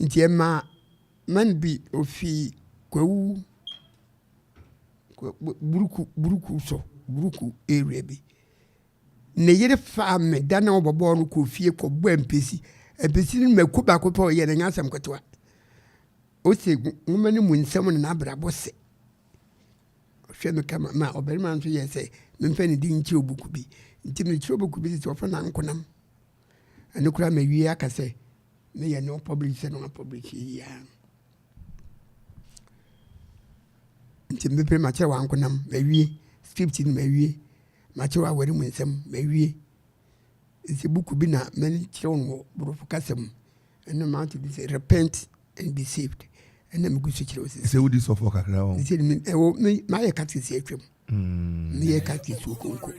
Nti ɛma man bi ofi Kwawu Buruku Buruku so Buruku area bi ne yere faa me da na ɔbɔbɔɔ no kɔ fie kɔbɔ mpesi mpesi no mako baako pɛ ɔyɛ no nyɛ asɛm ketewa ose nwoma no mu nsɛm na n'abrabɔ se ɔhwɛ me kama ma ɔbarima nso yɛ sɛ memfa ne din nkyerɛ obuku bi nti mekyerɛ obuku bi sɛ ɔfa nankonam ɛno koraa mawie aka sɛ Ne yɛ no public sɛ no public yia nti mepere makyerɛ wankonam mawie script no mawie makyerɛ waware mu nsɛm mawie nti buku bi na mɛne kyerɛ wɔn wɔ borɔfo kasa mu ɛno mato bi sɛ repent and be saved ɛna megu so kyerɛ wo sɛ wodi sɔfoɔ kakra wɔ ɛwɔ mayɛ katekisi atwam Mm. Meyɛ Catholic wɔ Konko.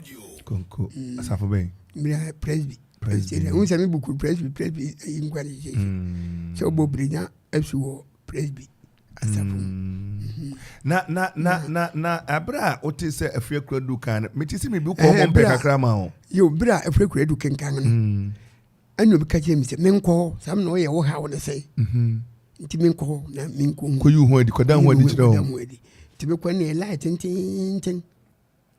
Konko. Mm. Asafo bɛn? Mira Presby. Presby. N sɛ me buku Presby Presby ayi nkwa ne gyegye. Mm. Sɛ wobɔ birenya asu wɔ Presby asafo mu. Mm. Mm-hmm. Na na na na na abere a wote sɛ afiri akura du kan no, mete sɛ mebi kɔ ɔmo mpɛ kakra ma o. Yo, bere a afiri akura du kenkan no. ɛna obi ka kyerɛ me sɛ menkɔ hɔ saa na ɔyɛ wo haw no sɛe mhm. nti menkɔ hɔ na menkɔ mu kɔyi ho adi kɔda ho adi kyerɛ wo nti mekɔ ne ɛla tententen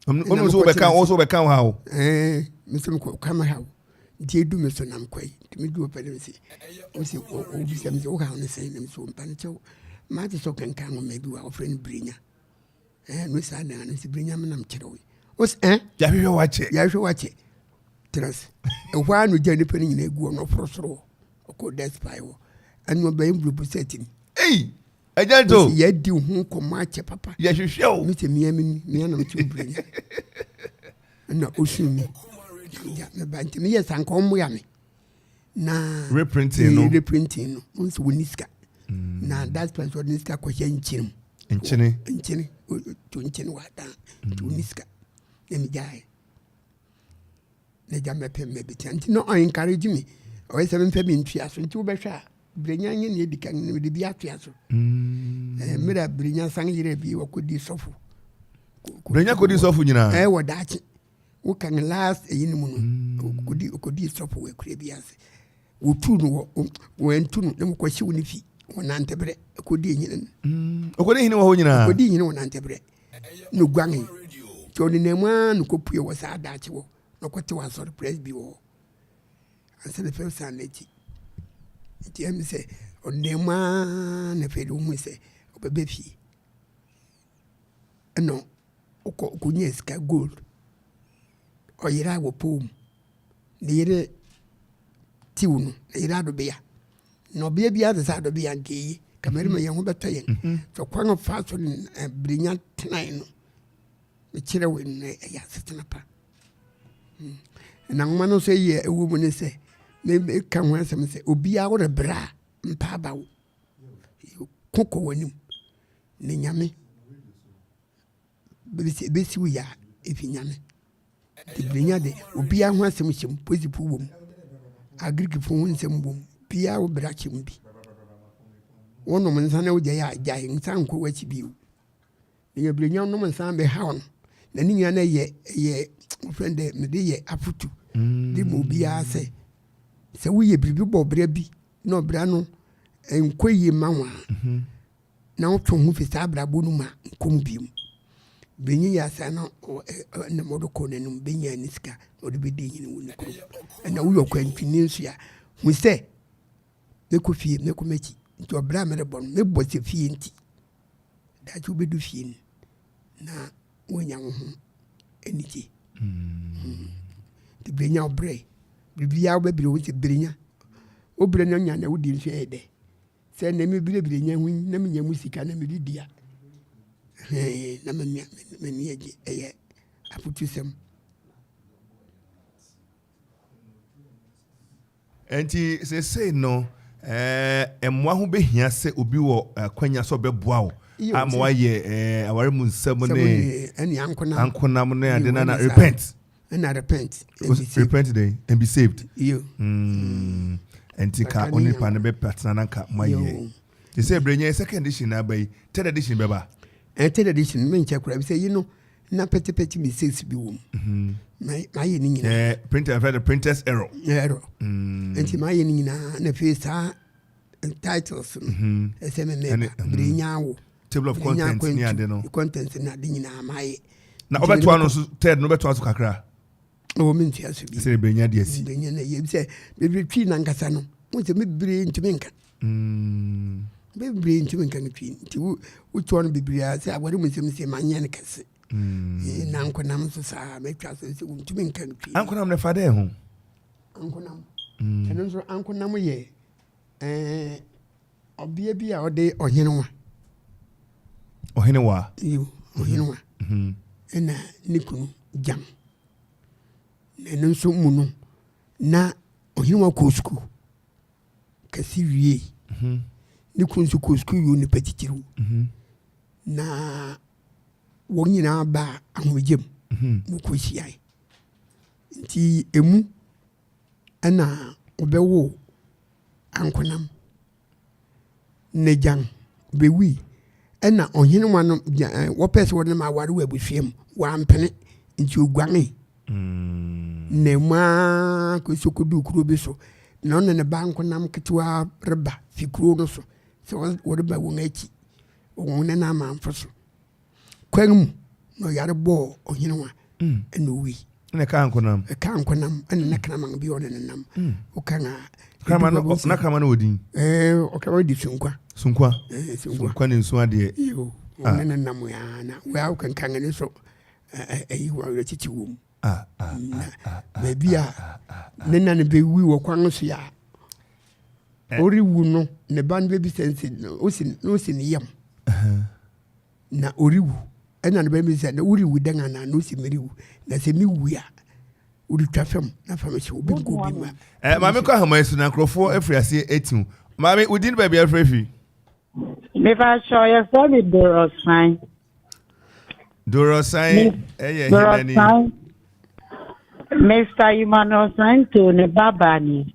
ɔno nso wobɛka wo nso wobɛka wo haw me sɛ mekɔ ka me haw nti ɛdu me so nam kɔe nti medu ɔpɛ ne sɛ ɔsɛ ɔbisɛ me sɛ wo haw no sɛe nam so mpa no kyɛw mate sɛ ɔkanka nwoma bi wɔ a wɔfrɛ no berenya eh, no saa dan no sɛ bere nyame nam kyerɛ wo ɔs eh, yɛahwehwɛ wakyɛ yɛahwehwɛ wakyɛ trans ɛhɔ a no gya nipa no nyina agu ɔno ɔforo soro ɔkɔ despae wɔ ɛno ɔbɛyɛ mbulobu sɛ tim ei ɛgya nto yɛadi ho nkɔmmɔ akyɛ papa yɛhwehwɛ o mesɛ mea meni mea nam kyerɛ bere nya ɛna ɔsum me meba nti meyɛ sanka ɔmmoa me na reprinting no reprinting no wɔn nso wɔn ni sika mm. na that's why wɔn ni sika kɔhyɛ nkyɛn mu nkyene nkyene to nkyene wɔ adan to mm. ni sika na mi gyae na gya mɛpɛ mɛ bi tia nti na ɔn encourage mi ɔyɛ sɛ mɛfɛ mi ntua so nti wobɛhwɛ a birenya nye ne edi kan na mede bi atua so ɛɛ mm. eh, mmerɛ a birenya san yere bi wɔkɔ di sɔfo birenya kɔ di sɔfo nyinaa ɛɛ eh, wɔ daakye. woka ne last ɛyi no mu no mm. okodi okodi sɔfo wɔ akura bi ase wotu no wɔ wɔntu no na mokɔ hye wo ne fi wɔ nantebrɛ okodi nyina no mm. okodi nyina wɔ hɔ nyinaa okodi nyina wɔ nantebrɛ na oguan yi nti ɔne nam a no kɔpue wɔ saa daakye wɔ na ɔkɔte wɔ asɔre press bi wɔ hɔ ansa na fɛw saa n'akyi nti ɛm sɛ ɔne nam a na fɛ de wohu sɛ ɔbɛbɛ fie Ɛna ɔkɔ ɔkɔnyaa sika gold. Ɔyeraa wɔ pɔw mu. Ne yere tiw no, ne yere adɔbea. Na ɔbea biara te sɛ adɔbea nka eye. Ka mmarima yɛn ho bɛtɔ yɛn. Mhm. Sɛ kwan ɔfa so no eh, berenya tenae no, mekyerɛ wo nnɛ ɛyɛ asetena pa. Hmm. Na nwoma no nso yɛ ɛwɔ mu ne sɛ, meka ho asɛm sɛ obiara worebrɛ a mpa aba wo. Ko kɔ w'anim. ne nyame bɛsi wo yɛ a, ɛfi nyame. Tibirenya de, obiara ho asɛm hyɛ mu, polisifo wɔ mu, Agrikifo ho nsɛm wɔ mu, biara wo bra hyɛ mu bi. Wonom nsa na wogyae a, gyae nsa nkɔ w'akyi bio. Na nyabirenya wonom nsa bɛhaw no, na ne nyinaa na ɛyɛ ɛyɛ wofrɛ dɛ mede yɛ afotu de ma obiara sɛ sɛ woyɛ biribi bɔ ɔbra bi na ɔbra no nkɔ yie ma wo a mhm. na ɔtwe wo ho fi saa abrabɔ no mu a, nkɔ mu bio. Benyin yɛ asa na nam ɔdo kɔ n'anom, benya ne sika na ɔde bedi hene wɔ ne kurom. Ɛna woyɛ ɔkwantuni nso a, hu sɛ mɛkɔ fie, mɛkɔ m'akyi. Nti ɔbra a merebɔ no, mebɔ sɛ fie nti. Daakye wobɛdu fie no na woanya wo ho anigye. Hmm. Nti berenya wobrɛ, biribiaa wobɛbere wo sɛ berenya. Wobrɛ no nya na wodi nso ɛyɛ dɛ. Sɛ na mebirɛbirɛ nya ho yi na menya mu sika na mede di a, na m'ani agye. Ɛyɛ afotusɛm. Nti seesei no ɛɛ mmoa ho bɛhia sɛ obi wɔ akwanya sɛ ɔbɛboa wo ama wayɛ ɛɛ aware mu nsɛm ne ankonam ne ade na na repent. ɛna repent and be saved repent then and be saved yo mm. ɛnti ka ɔne nipa no bɛpɛ tena na nka moayɛ te sɛ berɛ nyɛ second edition na aba yi third edition bɛba ɛn third edition menkyɛ koraa bi sɛ yi no na pɛtipɛti mistakes bi wɔ mu mhm. mayɛ ne nyinaa printers error error ɛnti mm. mayɛ ne nyinaa na afei saa titles no ɛsɛ me mɛba bere nya awo table of content ni ade no content na ade nyinaa ma yɛ na ɔbɛtoa no so third no ɔbɛtoa so kakra ɔwɔ me ntua so bi sɛ bere nya deɛ si bere nya na yɛ sɛ bere twi na nkasa no mo sɛ me bere ntumi nka mm. me bere ntumi nka no twi nti wo wotoa no bebree a sɛ awɔre mu nsɛm sɛ ma nyɛ no kɛse mm. eh, na nkonam nso saa mɛtwa so sɛ wontumi nka no twi ankonam na fa dɛ ho ankonam mm. ɛno nso ankonam yɛ Ɛɛ ɔbea bi a ɔde ɔhenewa. Ɔhenewa. Yiw, ɔhenewa. Mhm, mhm. Ɛna ne kunu gyam. Na ɛno nso mu no, na ɔhenewa kɔɔ sukuu kɛse wie mhm. ne kunu nso kɔɔ sukuu yɛo nipa titiriw mhm. na wɔn nyinaa baa ahomegye mu mhm. na wɔkɔhyiae nti ɛmu Ɛna ɔbɛwo ankonam nagyan bɛwui ɛna ɔhene wa no wɔpɛɛ sɛ wɔde no ma aware wɔ abusua mu wampene nti ɔguane mm. na mu a kɔsɛ kɔduu kuro bi so na ɔne ne ba nkonam ketewa reba fi kuro no so sɛ wɔreba wɔn akyi wɔn ne no amanfo so kwan mu na ɔyare bɔɔ ɔhene wa mm. ɛna owui na ɛka nkonam ɛka nkonam ɛna na kraman bi ɔne ne nam mm. woka na kraman no na kraman no wɔ din ɛɛ ɔkraman di sunkwa sunkwa ɛɛ sunkwa sunkwa ne nsu adeɛ yoo ah. ɔne ne nam yaa na wɔa wokankan ne so ɛyi wɔn awerɛ titi wɔm ah, ah, na baabi a ne na ne bɛwi wɔ kwan no so a eh. ɔrewu no ne ba no bɛbi sɛ nsi no osi ne yam Na ɔrewu. Ɛnna ne ba no bisae sɛ, Na worewu dɛn anaa? Na ɔse, Merewu, na sɛ mewu a, woretwa fam na fa me hyew, obi nka obi mma. Eh, maame kɔ ahaman so na nkurɔfoɔ afiri aseɛ atiw. Maame, wo din baabi a afiri afiri? Mepakyɛw, yɛfrɛ me Dorɔsan. Dorɔsan yɛ hena ni? Dorɔsan, Mister Emmanuel Santo ne babaa ni.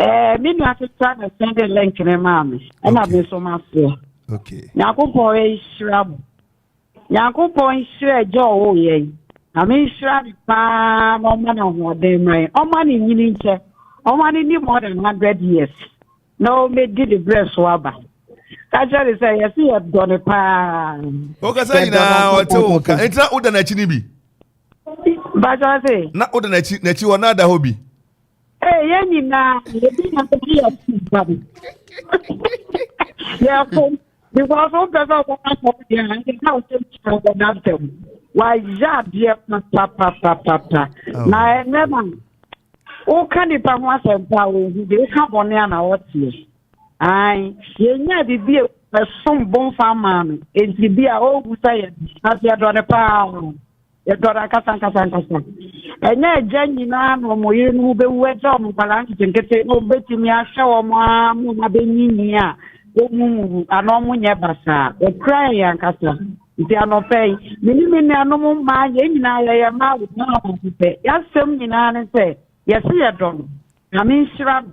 Eh, me nua ketewa na send the link ne maa me ɛna me nso ma soɔ nyankopɔn nhyira mo nyankopɔn nhyira agya ɔwɔ yɛn na me nhyira ne paa na ɔma no ahoɔden ma yɛn ɔma ne nyini nkyɛ ɔma no ni more than hundred years na ɔmɛdi ne berɛ so aba ka kyerɛ ne sɛ yɛse yɛdɔ ne paa wokasa nyinaa ɔte wo nka ɛnti na woda n'akyi no bi na woda n'akyi hɔ na ada hɔ bi Ee, yɛn nyinaa ebi na sɛ yɛ ti ba bi. Yɛ fo because o pɛ sɛ o bɛka sɛ o yɛ ɛdi na o sɛ o ti o bɛ na sɛ o wa yɛ adeɛ papapapapa na ɛnɛ na o ka nipa ho asɛmpa o hu de o ka bɔnne a na ɔteɛ ayi yɛ nya bibi a ɛsom bonfa maa no eti bi a o hu sɛ yɛ aseɛ dɔ ne paa. Yɛtɔn ankasa ankasa ankasa. Ɛnyɛ agya nyinaa na wɔn yere no bɛwu agya wɔn nkwadaa nketenkete na wɔbɛtumi ahwɛ wɔn ara ma wɔn abɛnyinyi a wɔn mu wu anaa wɔn nyɛ basaa. Ɛkura yɛn ankasa. Nti anɔpɛ yi, me ne me nuanom mmaa yɛn nyinaa yɛyɛ mmaa wɔn ara baako pɛ. Yɛasɛm nyinaa ne sɛ yɛse yɛdɔ no. Nyame nhyira no.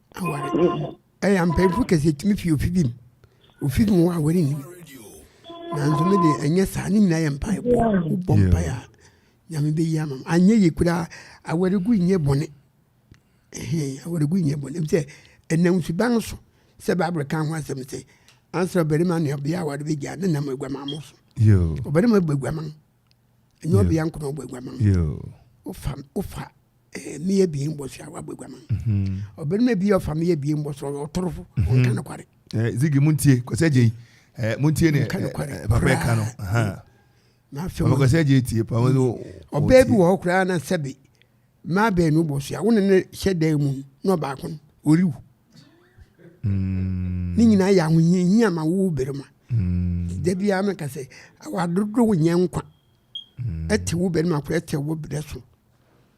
aware ɛyɛ ampanyinfo kɛse etumi fi ofi bi mu ofi mu wɔ aware ni nanso mi de ɛnyɛ saa ne nyinaa yɛ mpae bɔ bɔ mpae a nyame bɛ yi ama anyɛ yie koraa aware gu nyɛ bɔne ɛhɛn aware gu nyɛ bɔne sɛ ɛnam suban so sɛ baabere kan ho asɛm sɛ ansa ɔbarima ne ɔbea aware bɛ gya ne nam aguaman mo so ɔbarima bɛ aguaman. ɛnyɛ ɔbea nko na ɔbɔ aguaman wofa wofa eh, mmea abien bɔ so a wabɔ aguaman mhm. ɔbarima bi ɔfa mmea abien bɔ so ɔyɛ ɔtorofo mhm. ɔnka nokware eh, zigi montie kɔsɛ gyei eh, montie ne papa ɛka no kɔsɛ gyei tie ɔbaa bi wɔ hɔ koraa na sɛbe Mmaa baanu bɔ so a, wo ne no hyɛ dan mu na ɔbaako no, ɔrewu. Mm. Ne nyinaa yɛ ahohiahia ma wo barima. Mm. Da biara meka sɛ, awadodo nyɛ nkwa. Mm. Ɛte wo barima koro, ɛte wo berɛ so,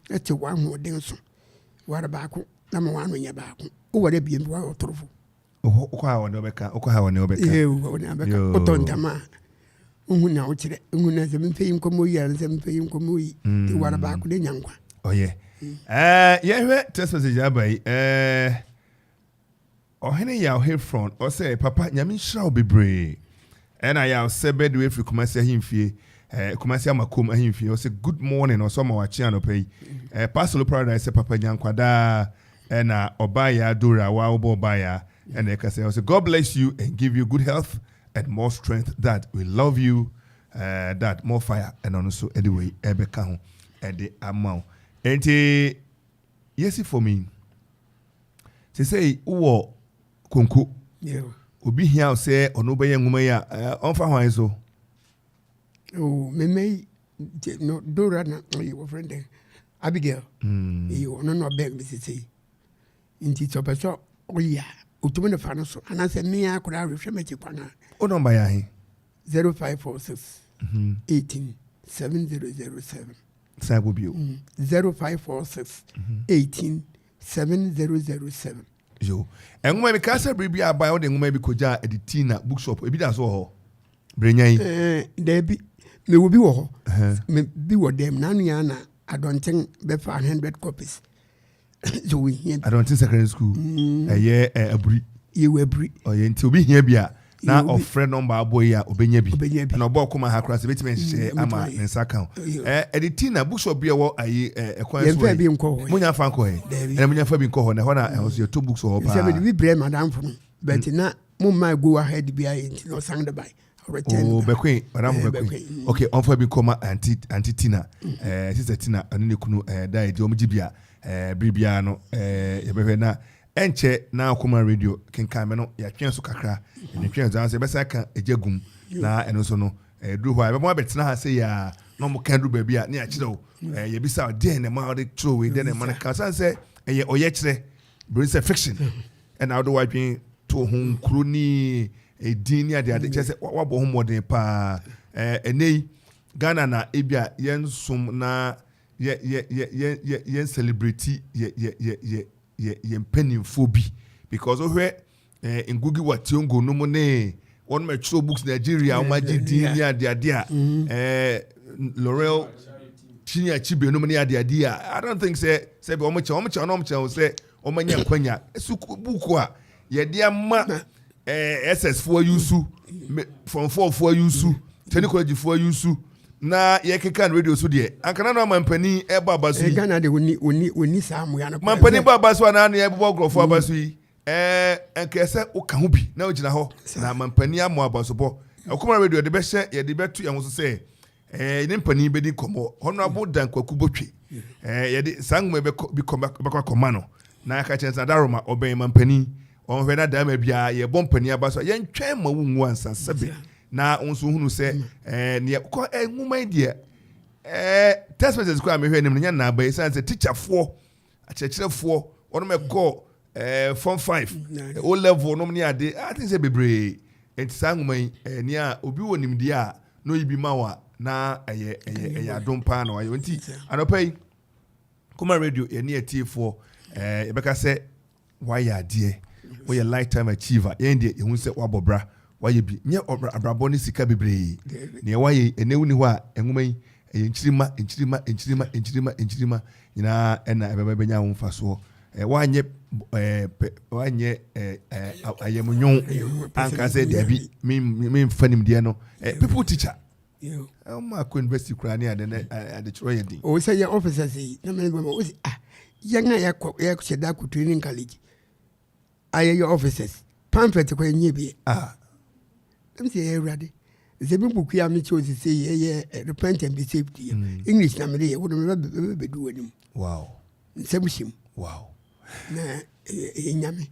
ɛte w'ahoɔden so. Ware baako na ma w'ano nyɛ baako. Woware abien bi, woayɛ ɔtorofo. wokɔ ha wɔne wɔbɛka wokɔ ha wɔne wɔbɛka wɔne abɛka wotɔ ntama a wohu na wokyerɛ wohu na sɛ mepɛ yi nkɔmmɔ yi ara sɛ mepɛ yi nkɔmmɔ yi mm. nti wara baako de nya nkwa ɔyɛ mm. eh, yɛhwɛ text message aba yi eh, ɔhene yɛ ɔhefron ɔsɛ papa nyame nhyira wo bebree Ɛyɛ no ayɛ a ɔsɛ Badu ɛfiri Kumasi ahemfie eh, Kumasi Amakom ahemfie ɔsɛ good morning ɔsɛ ɔma wakye anɔpa yi eh, Pasolo Paradise sɛ papa nya nkwadaa eh, na ɔbaayaa Dora wa wobɔ ɔbaayaa eh, na ɛka sɛ ɔsɛ God bless you and give you good health and more strength that we love you eh, that more fire ɛna ɔno nso ɛde wei ɛbɛka ho ɛde ama wo enti yɛsi fam yi sɛ sɛ wowɔ konko. Obi hia wo sɛ ɔno bɛyɛ nwoma yi a, ɔmfa hwan so? Oh, meme yi, no, Dora na ɔyɛ wɔ friend dɛ, Abigail. Mm. Eyi ɔno na ɔbɛn me sese. Nti sɛ ɔpɛ sɛ ɔyɛ a, otumi ne fa no so. Anaasɛ mmea koraa rehwɛ m'akyi kwan a. Wo nɔmba yɛ ahe? 0546 18 7007. San kɔ bio. 0546 18 7007. Yo. Nwoma bi, kaa sɛ bere bi a abae wode nwoma bi kogyaa de tii na bookshop. Ebi da so wɔ hɔ. Berenya yi. Eh, daabi. Mewɔ bi wɔ hɔ. Me bi wɔ dɛm. N'ano yɛ na adɔnten bɛfa 100 copies. Yo, hia bi. Adɔnten secondary school. Mm. Ɛyɛ eh, aburi. Yɛwɔ aburi. Ɔyɛ nti obi hia bi a na ɔfrɛ nɔmba abɔ yi a ɔbɛnya bi na ɔbɔ ɔkoma ha koraa sɛ bɛtumi nhyehyɛ mm, ama ne nsa ka ɛde ti na bookshop bi ɛwɔ ayi ɛkwan so yi monya fa nkɔ hɛ ɛna monya fa bi nkɔ hɔ na ɛhɔ na ɛhɔ so yɛtɔ books wɔ hɔ paa sɛ bi brɛ madamfo no bɛti mm. na mo mma go ahead bi ayɛ nti na ɔsan de bae Oh, bɛkwen madam eh, bɛkwen mm. okay ɔmfa bi nkɔma anti anti tina mm. eh, sister tina ɛne ne kunu eh, da ɛdi ɔmo gye bi a eh, biribiara no eh, yɛbɛhwɛ na Ɛnkyɛ na Akoma Radio kenkan me no, yɛatwe so kakra. Yɛtwe twe nso, nanso yɛbɛsan aka Agya Gum, na ɛno nso no, ɛduru hɔ a, yɛbɛma abɛtena ha sɛ yɛ a, na wɔka aduru baabi a, ne yɛakyerɛ wo. Yɛbisa wo, deɛ na ɛma wode kyerɛ wei, deɛ na ɛma no ka, sane sɛ ɛyɛ ɔyɛkyerɛ, bere sɛ fiction, ɛna wode w'adwene to ho nkuro ne edin ne adeade, kyerɛ sɛ wabɔ ho mmɔden paa. Ɛnɛ yi, Ghana na ebi a yɛnsom na yɛn celebrity yɛ yɛ yɛn mpanimfoɔ bi because wohwɛ eh, ngugi wa tiongo no mu ne wɔn ma ɛtwerɛ books nigeria wɔn agye din ne adeade a mm-hmm. eh, laurel chinya chibe no mu ne adeade a i don't think sɛ sɛ bi wɔn kyɛn wɔn kyɛn wɔn kyɛn sɛ wɔn anya nkwanya sukuu buku a yɛde ama ɛɛ ss foɔ yi su form four foɔ yi su tɛni kɔlɛgyi foɔ yi su na yɛkeka no radio so deɛ anka na no amampanin ɛbɔ aba so yi ghana de oni oni oni saa mmoa no mampanin bɔ aba so anaa no yɛbobɔ nkurɔfoɔ aba so yi ɛɛ ɛnkɛɛ sɛ woka ho bi na wogyina hɔ na amampanin ammɔ aba so bɔ ɛkɔmɔ radio yɛde bɛhyɛ yɛde bɛto yɛn ho so sɛ Ɛɛ, ne mpanin bɛdi nkɔmmɔ. Honorable Dan Kwaku Botwe. Ɛɛ, yɛde saa nwoma yi bɛkɔ bi kɔma bɛkɔ akɔma no. Na yɛaka kyerɛ no sɛ adaroma ɔbɛn ma mpanin. Ɔnhwɛ na darima biara yɛbɔ mpanin aba so a yɛntwɛn ma wonwu ansa sɛbe. Na wo nso hunu sɛ ɛɛ neɛ kɔ ɛɛ nwoma yi deɛ ɛɛ text message koraa mehwɛ anim no nyɛ nnaaba yi sane sɛ tikyafoɔ Akyerɛkyerɛfoɔ, wɔnom ɛkɔɔ eh, form five, eh, o level nom ne ade, I think sɛ bebree. Nti saa nwoma yi, eh, nea obi wɔ nimdeɛ a na oyi bi ma wa na ɛyɛ ɛyɛ ɛyɛ adom paa na wayɛ. Nti anɔpa yi, Kuma Radio, yɛne atiefoɔ, eh, yɛbɛka sɛ Wayɛ adeɛ, woyɛ life time achiever, yɛn deɛ yɛhu sɛ wabɔ bra, wayɛ bi, nyɛ abrabɔ ne sika bebree, neɛ wayɛ yi, ɛnɛ wonni hɔ a, nwoma yi, ɛyɛ nkyirima, nkyirima, nkyirima, nkyirima, nkyirima nyinaa ɛna ɛbɛma bɛnya ho mfasoɔ, woanyɛ pɛ, woanyɛ ayamnwoo anka sɛ dabi, memfa nimdeɛ no, people teacher. ɔma kɔ university koraa ne ade ne adekyerɛ yɛ den. o sɛ yɛ officers yi na mɛ bɛma o sɛ ah yɛn a yɛkɔ yɛhyɛ da kɔ training college a yɛyɛ officers pamphlet kɔ yɛnyɛ bi ah ɛm sɛ yɛ awurade sɛ me buku a mekyɛ o sese yɛyɛ repent and be saved yɛ mm. english na mede yɛ wode mebɛdu w'anim wow nsɛm hyɛ mu wow na ɛyɛ nyame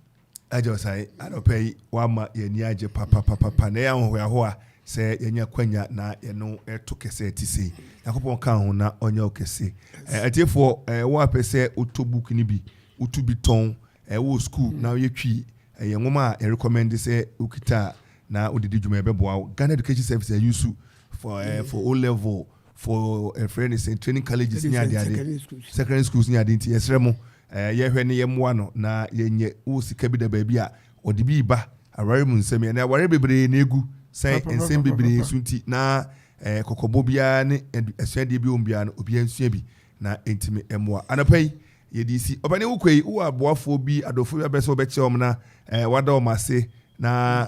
agya ɔsan anɔpa yi wama yɛni agye papapapapa na ɛyɛ ahohoahoa sɛ yɛnya kwanya na yɛno ɛto kɛsɛ ɛte sei nyankopɔn ka ho na ɔnyɛ wo kɛse atiefoɔ ɛwɔ apɛ sɛ wotɔ book no bi wotu bi tɔn ɛwɔ school na woyɛ twi ɛyɛ nwoma a yɛrekɔmɛnde sɛ wokita a na wode di dwuma ɛbɛboa wo Ghana Education Service ayusu for, uh, for O level for ɛfrɛ ne sɛ training colleges ne adeade secondary schools ne ade nti yɛsrɛ mo eh, yɛhwɛ ne yɛmmoa no na yɛnyɛ wo sika bi da baabi a ɔde bi ba aware mu nsɛm yɛ na aware bebree na egu sɛ nsɛm bebree so nti na eh, kɔkɔbɔ biara ne asuadeɛ bi wɔn biara no obiara nsua bi Na enti me mmoa. Anɔpa yi, yɛde resi. Ɔpanin wokɔ yi, wowɔ aboafoɔ bi, adɔfoɔ bi abɛsɛ wɔbɛkyɛ wɔn na ɛɛ wada wɔn ase na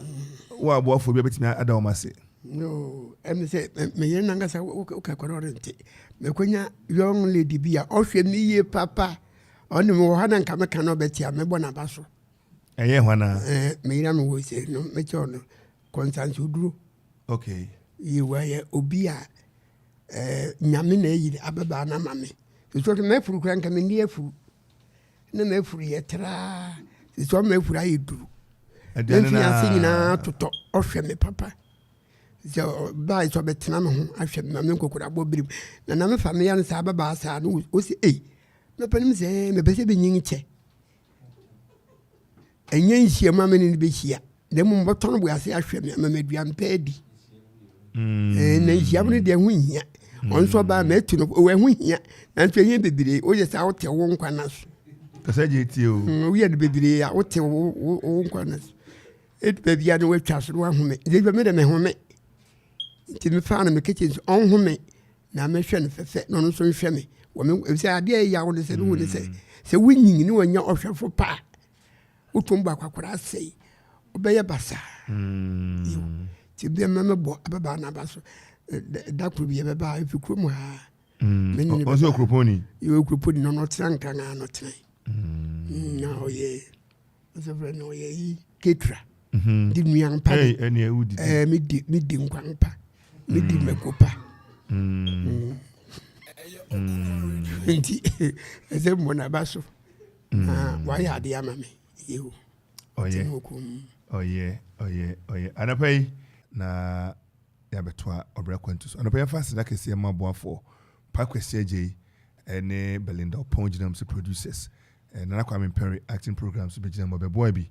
wowɔ aboafoɔ bi abɛtumi ada wɔn ase. No, ɛmi sɛ meyere nankasa woka kɔrɔ ɔre nte. Mɛkɔnya young lady bi a ɔhwɛ me yie papa. Ɔne me wɔ hɔ na nka meka na ɔbɛtia mɛbɔ n'aba so. Ɛyɛ hɔ na. Ɛɛ meyere a mewɔ sɛ no mɛkyɛ ɔno kɔnsanso duro. Okay. Ye wɔyɛ obi a eh, nyame na ayi ababaa no ama me sisɔre mafuru kora nka menni afuru na mafuru yɛ traa sisɔre mafuru ayɛ duru mɛmfi ase nyinaa totɔ ɔhwɛ me papa sɛ ɔbaa sɛ ɔbɛtena me ho ahwɛ me ma me nkɔkorabɔ birim na na mefa meyɛ no saa bɛbaa saa no ɔsi ei mɛpɛ no m sɛ mepɛ sɛ bɛnyin kyɛ Ɛnyɛ nhyiam a me ne no bɛhyia na mmom bɛtɔ no boase ahwɛ me ama maduan pɛ adi mm. eh, na nhyiam no deɛ ho hia mm. ɔno nso ɔbaa matu no ɛho hia nanso ɛnyɛ bebree woyɛ saa wote wo nkwa no so kasa gye tie o mm, woyɛ no bebree a wote wo nkwa no so ɛdu baabi a no woatwa so no wahome ɛdɛ me dɛ mehome nti mefaa no mekɛkyɛ nso ɔnhome na mehwɛ no sɛ sɛ na ɔno nso nhwɛ me wɔ me efisɛ adeɛ a ɛyaw no sɛ mehu ne sɛ mm. sɛ wonyin ne wɔnya ɔhwɛfo pa a wotom bɔ akwakora asɛe wobɛyɛ basaa mm. nti bia mɛmɛbɔ ababaa no aba so da koro bi yɛbɛba ɛfi kuro mu haa mm. ɔsɛ ɔkuropɔni yɛwɔ kuropɔni no ɔno ɔtena nkranaa no ɔtena na ɔyɛ ɔsɛfrɛ no ɔyɛ yi ketra mhm. de nnuan pa medi medi nkwan pa medi mm. mako pa mm. Mm. nti ɛsɛ mmɔ naba so na wayɛ adeɛ ama me yeo ɔyɛ ɔyɛ ɔyɛ ɔyɛ anapa yi na yɛabɛtoa ɔbrɛ kwantu so anapa yɛfa aseda kɛseɛ ma aboafoɔ pa kwasi agye yi ɛne belinda ɔpɔn gyinam sɛ producers Nana Kwame Perry acting program nso bɛgyina mu. Ɔbɛboa bi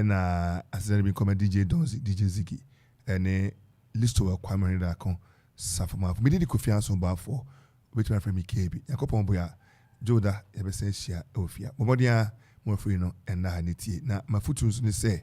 na asetena no bi nkɔma DJ Donzy, DJ Ziggy ne Listowa Kwame Hene Daako Safomanfo. Mede di Kofi Anson Boafoɔ, wobɛtumi afrɛ me KB. Nyankopɔn boa Dwoda yɛbɛsan ahyia wɔ fie a. Bɔ mmɔden ara ma wafiri no nna ha ne tie. Na m'afotuo nso ne sɛ.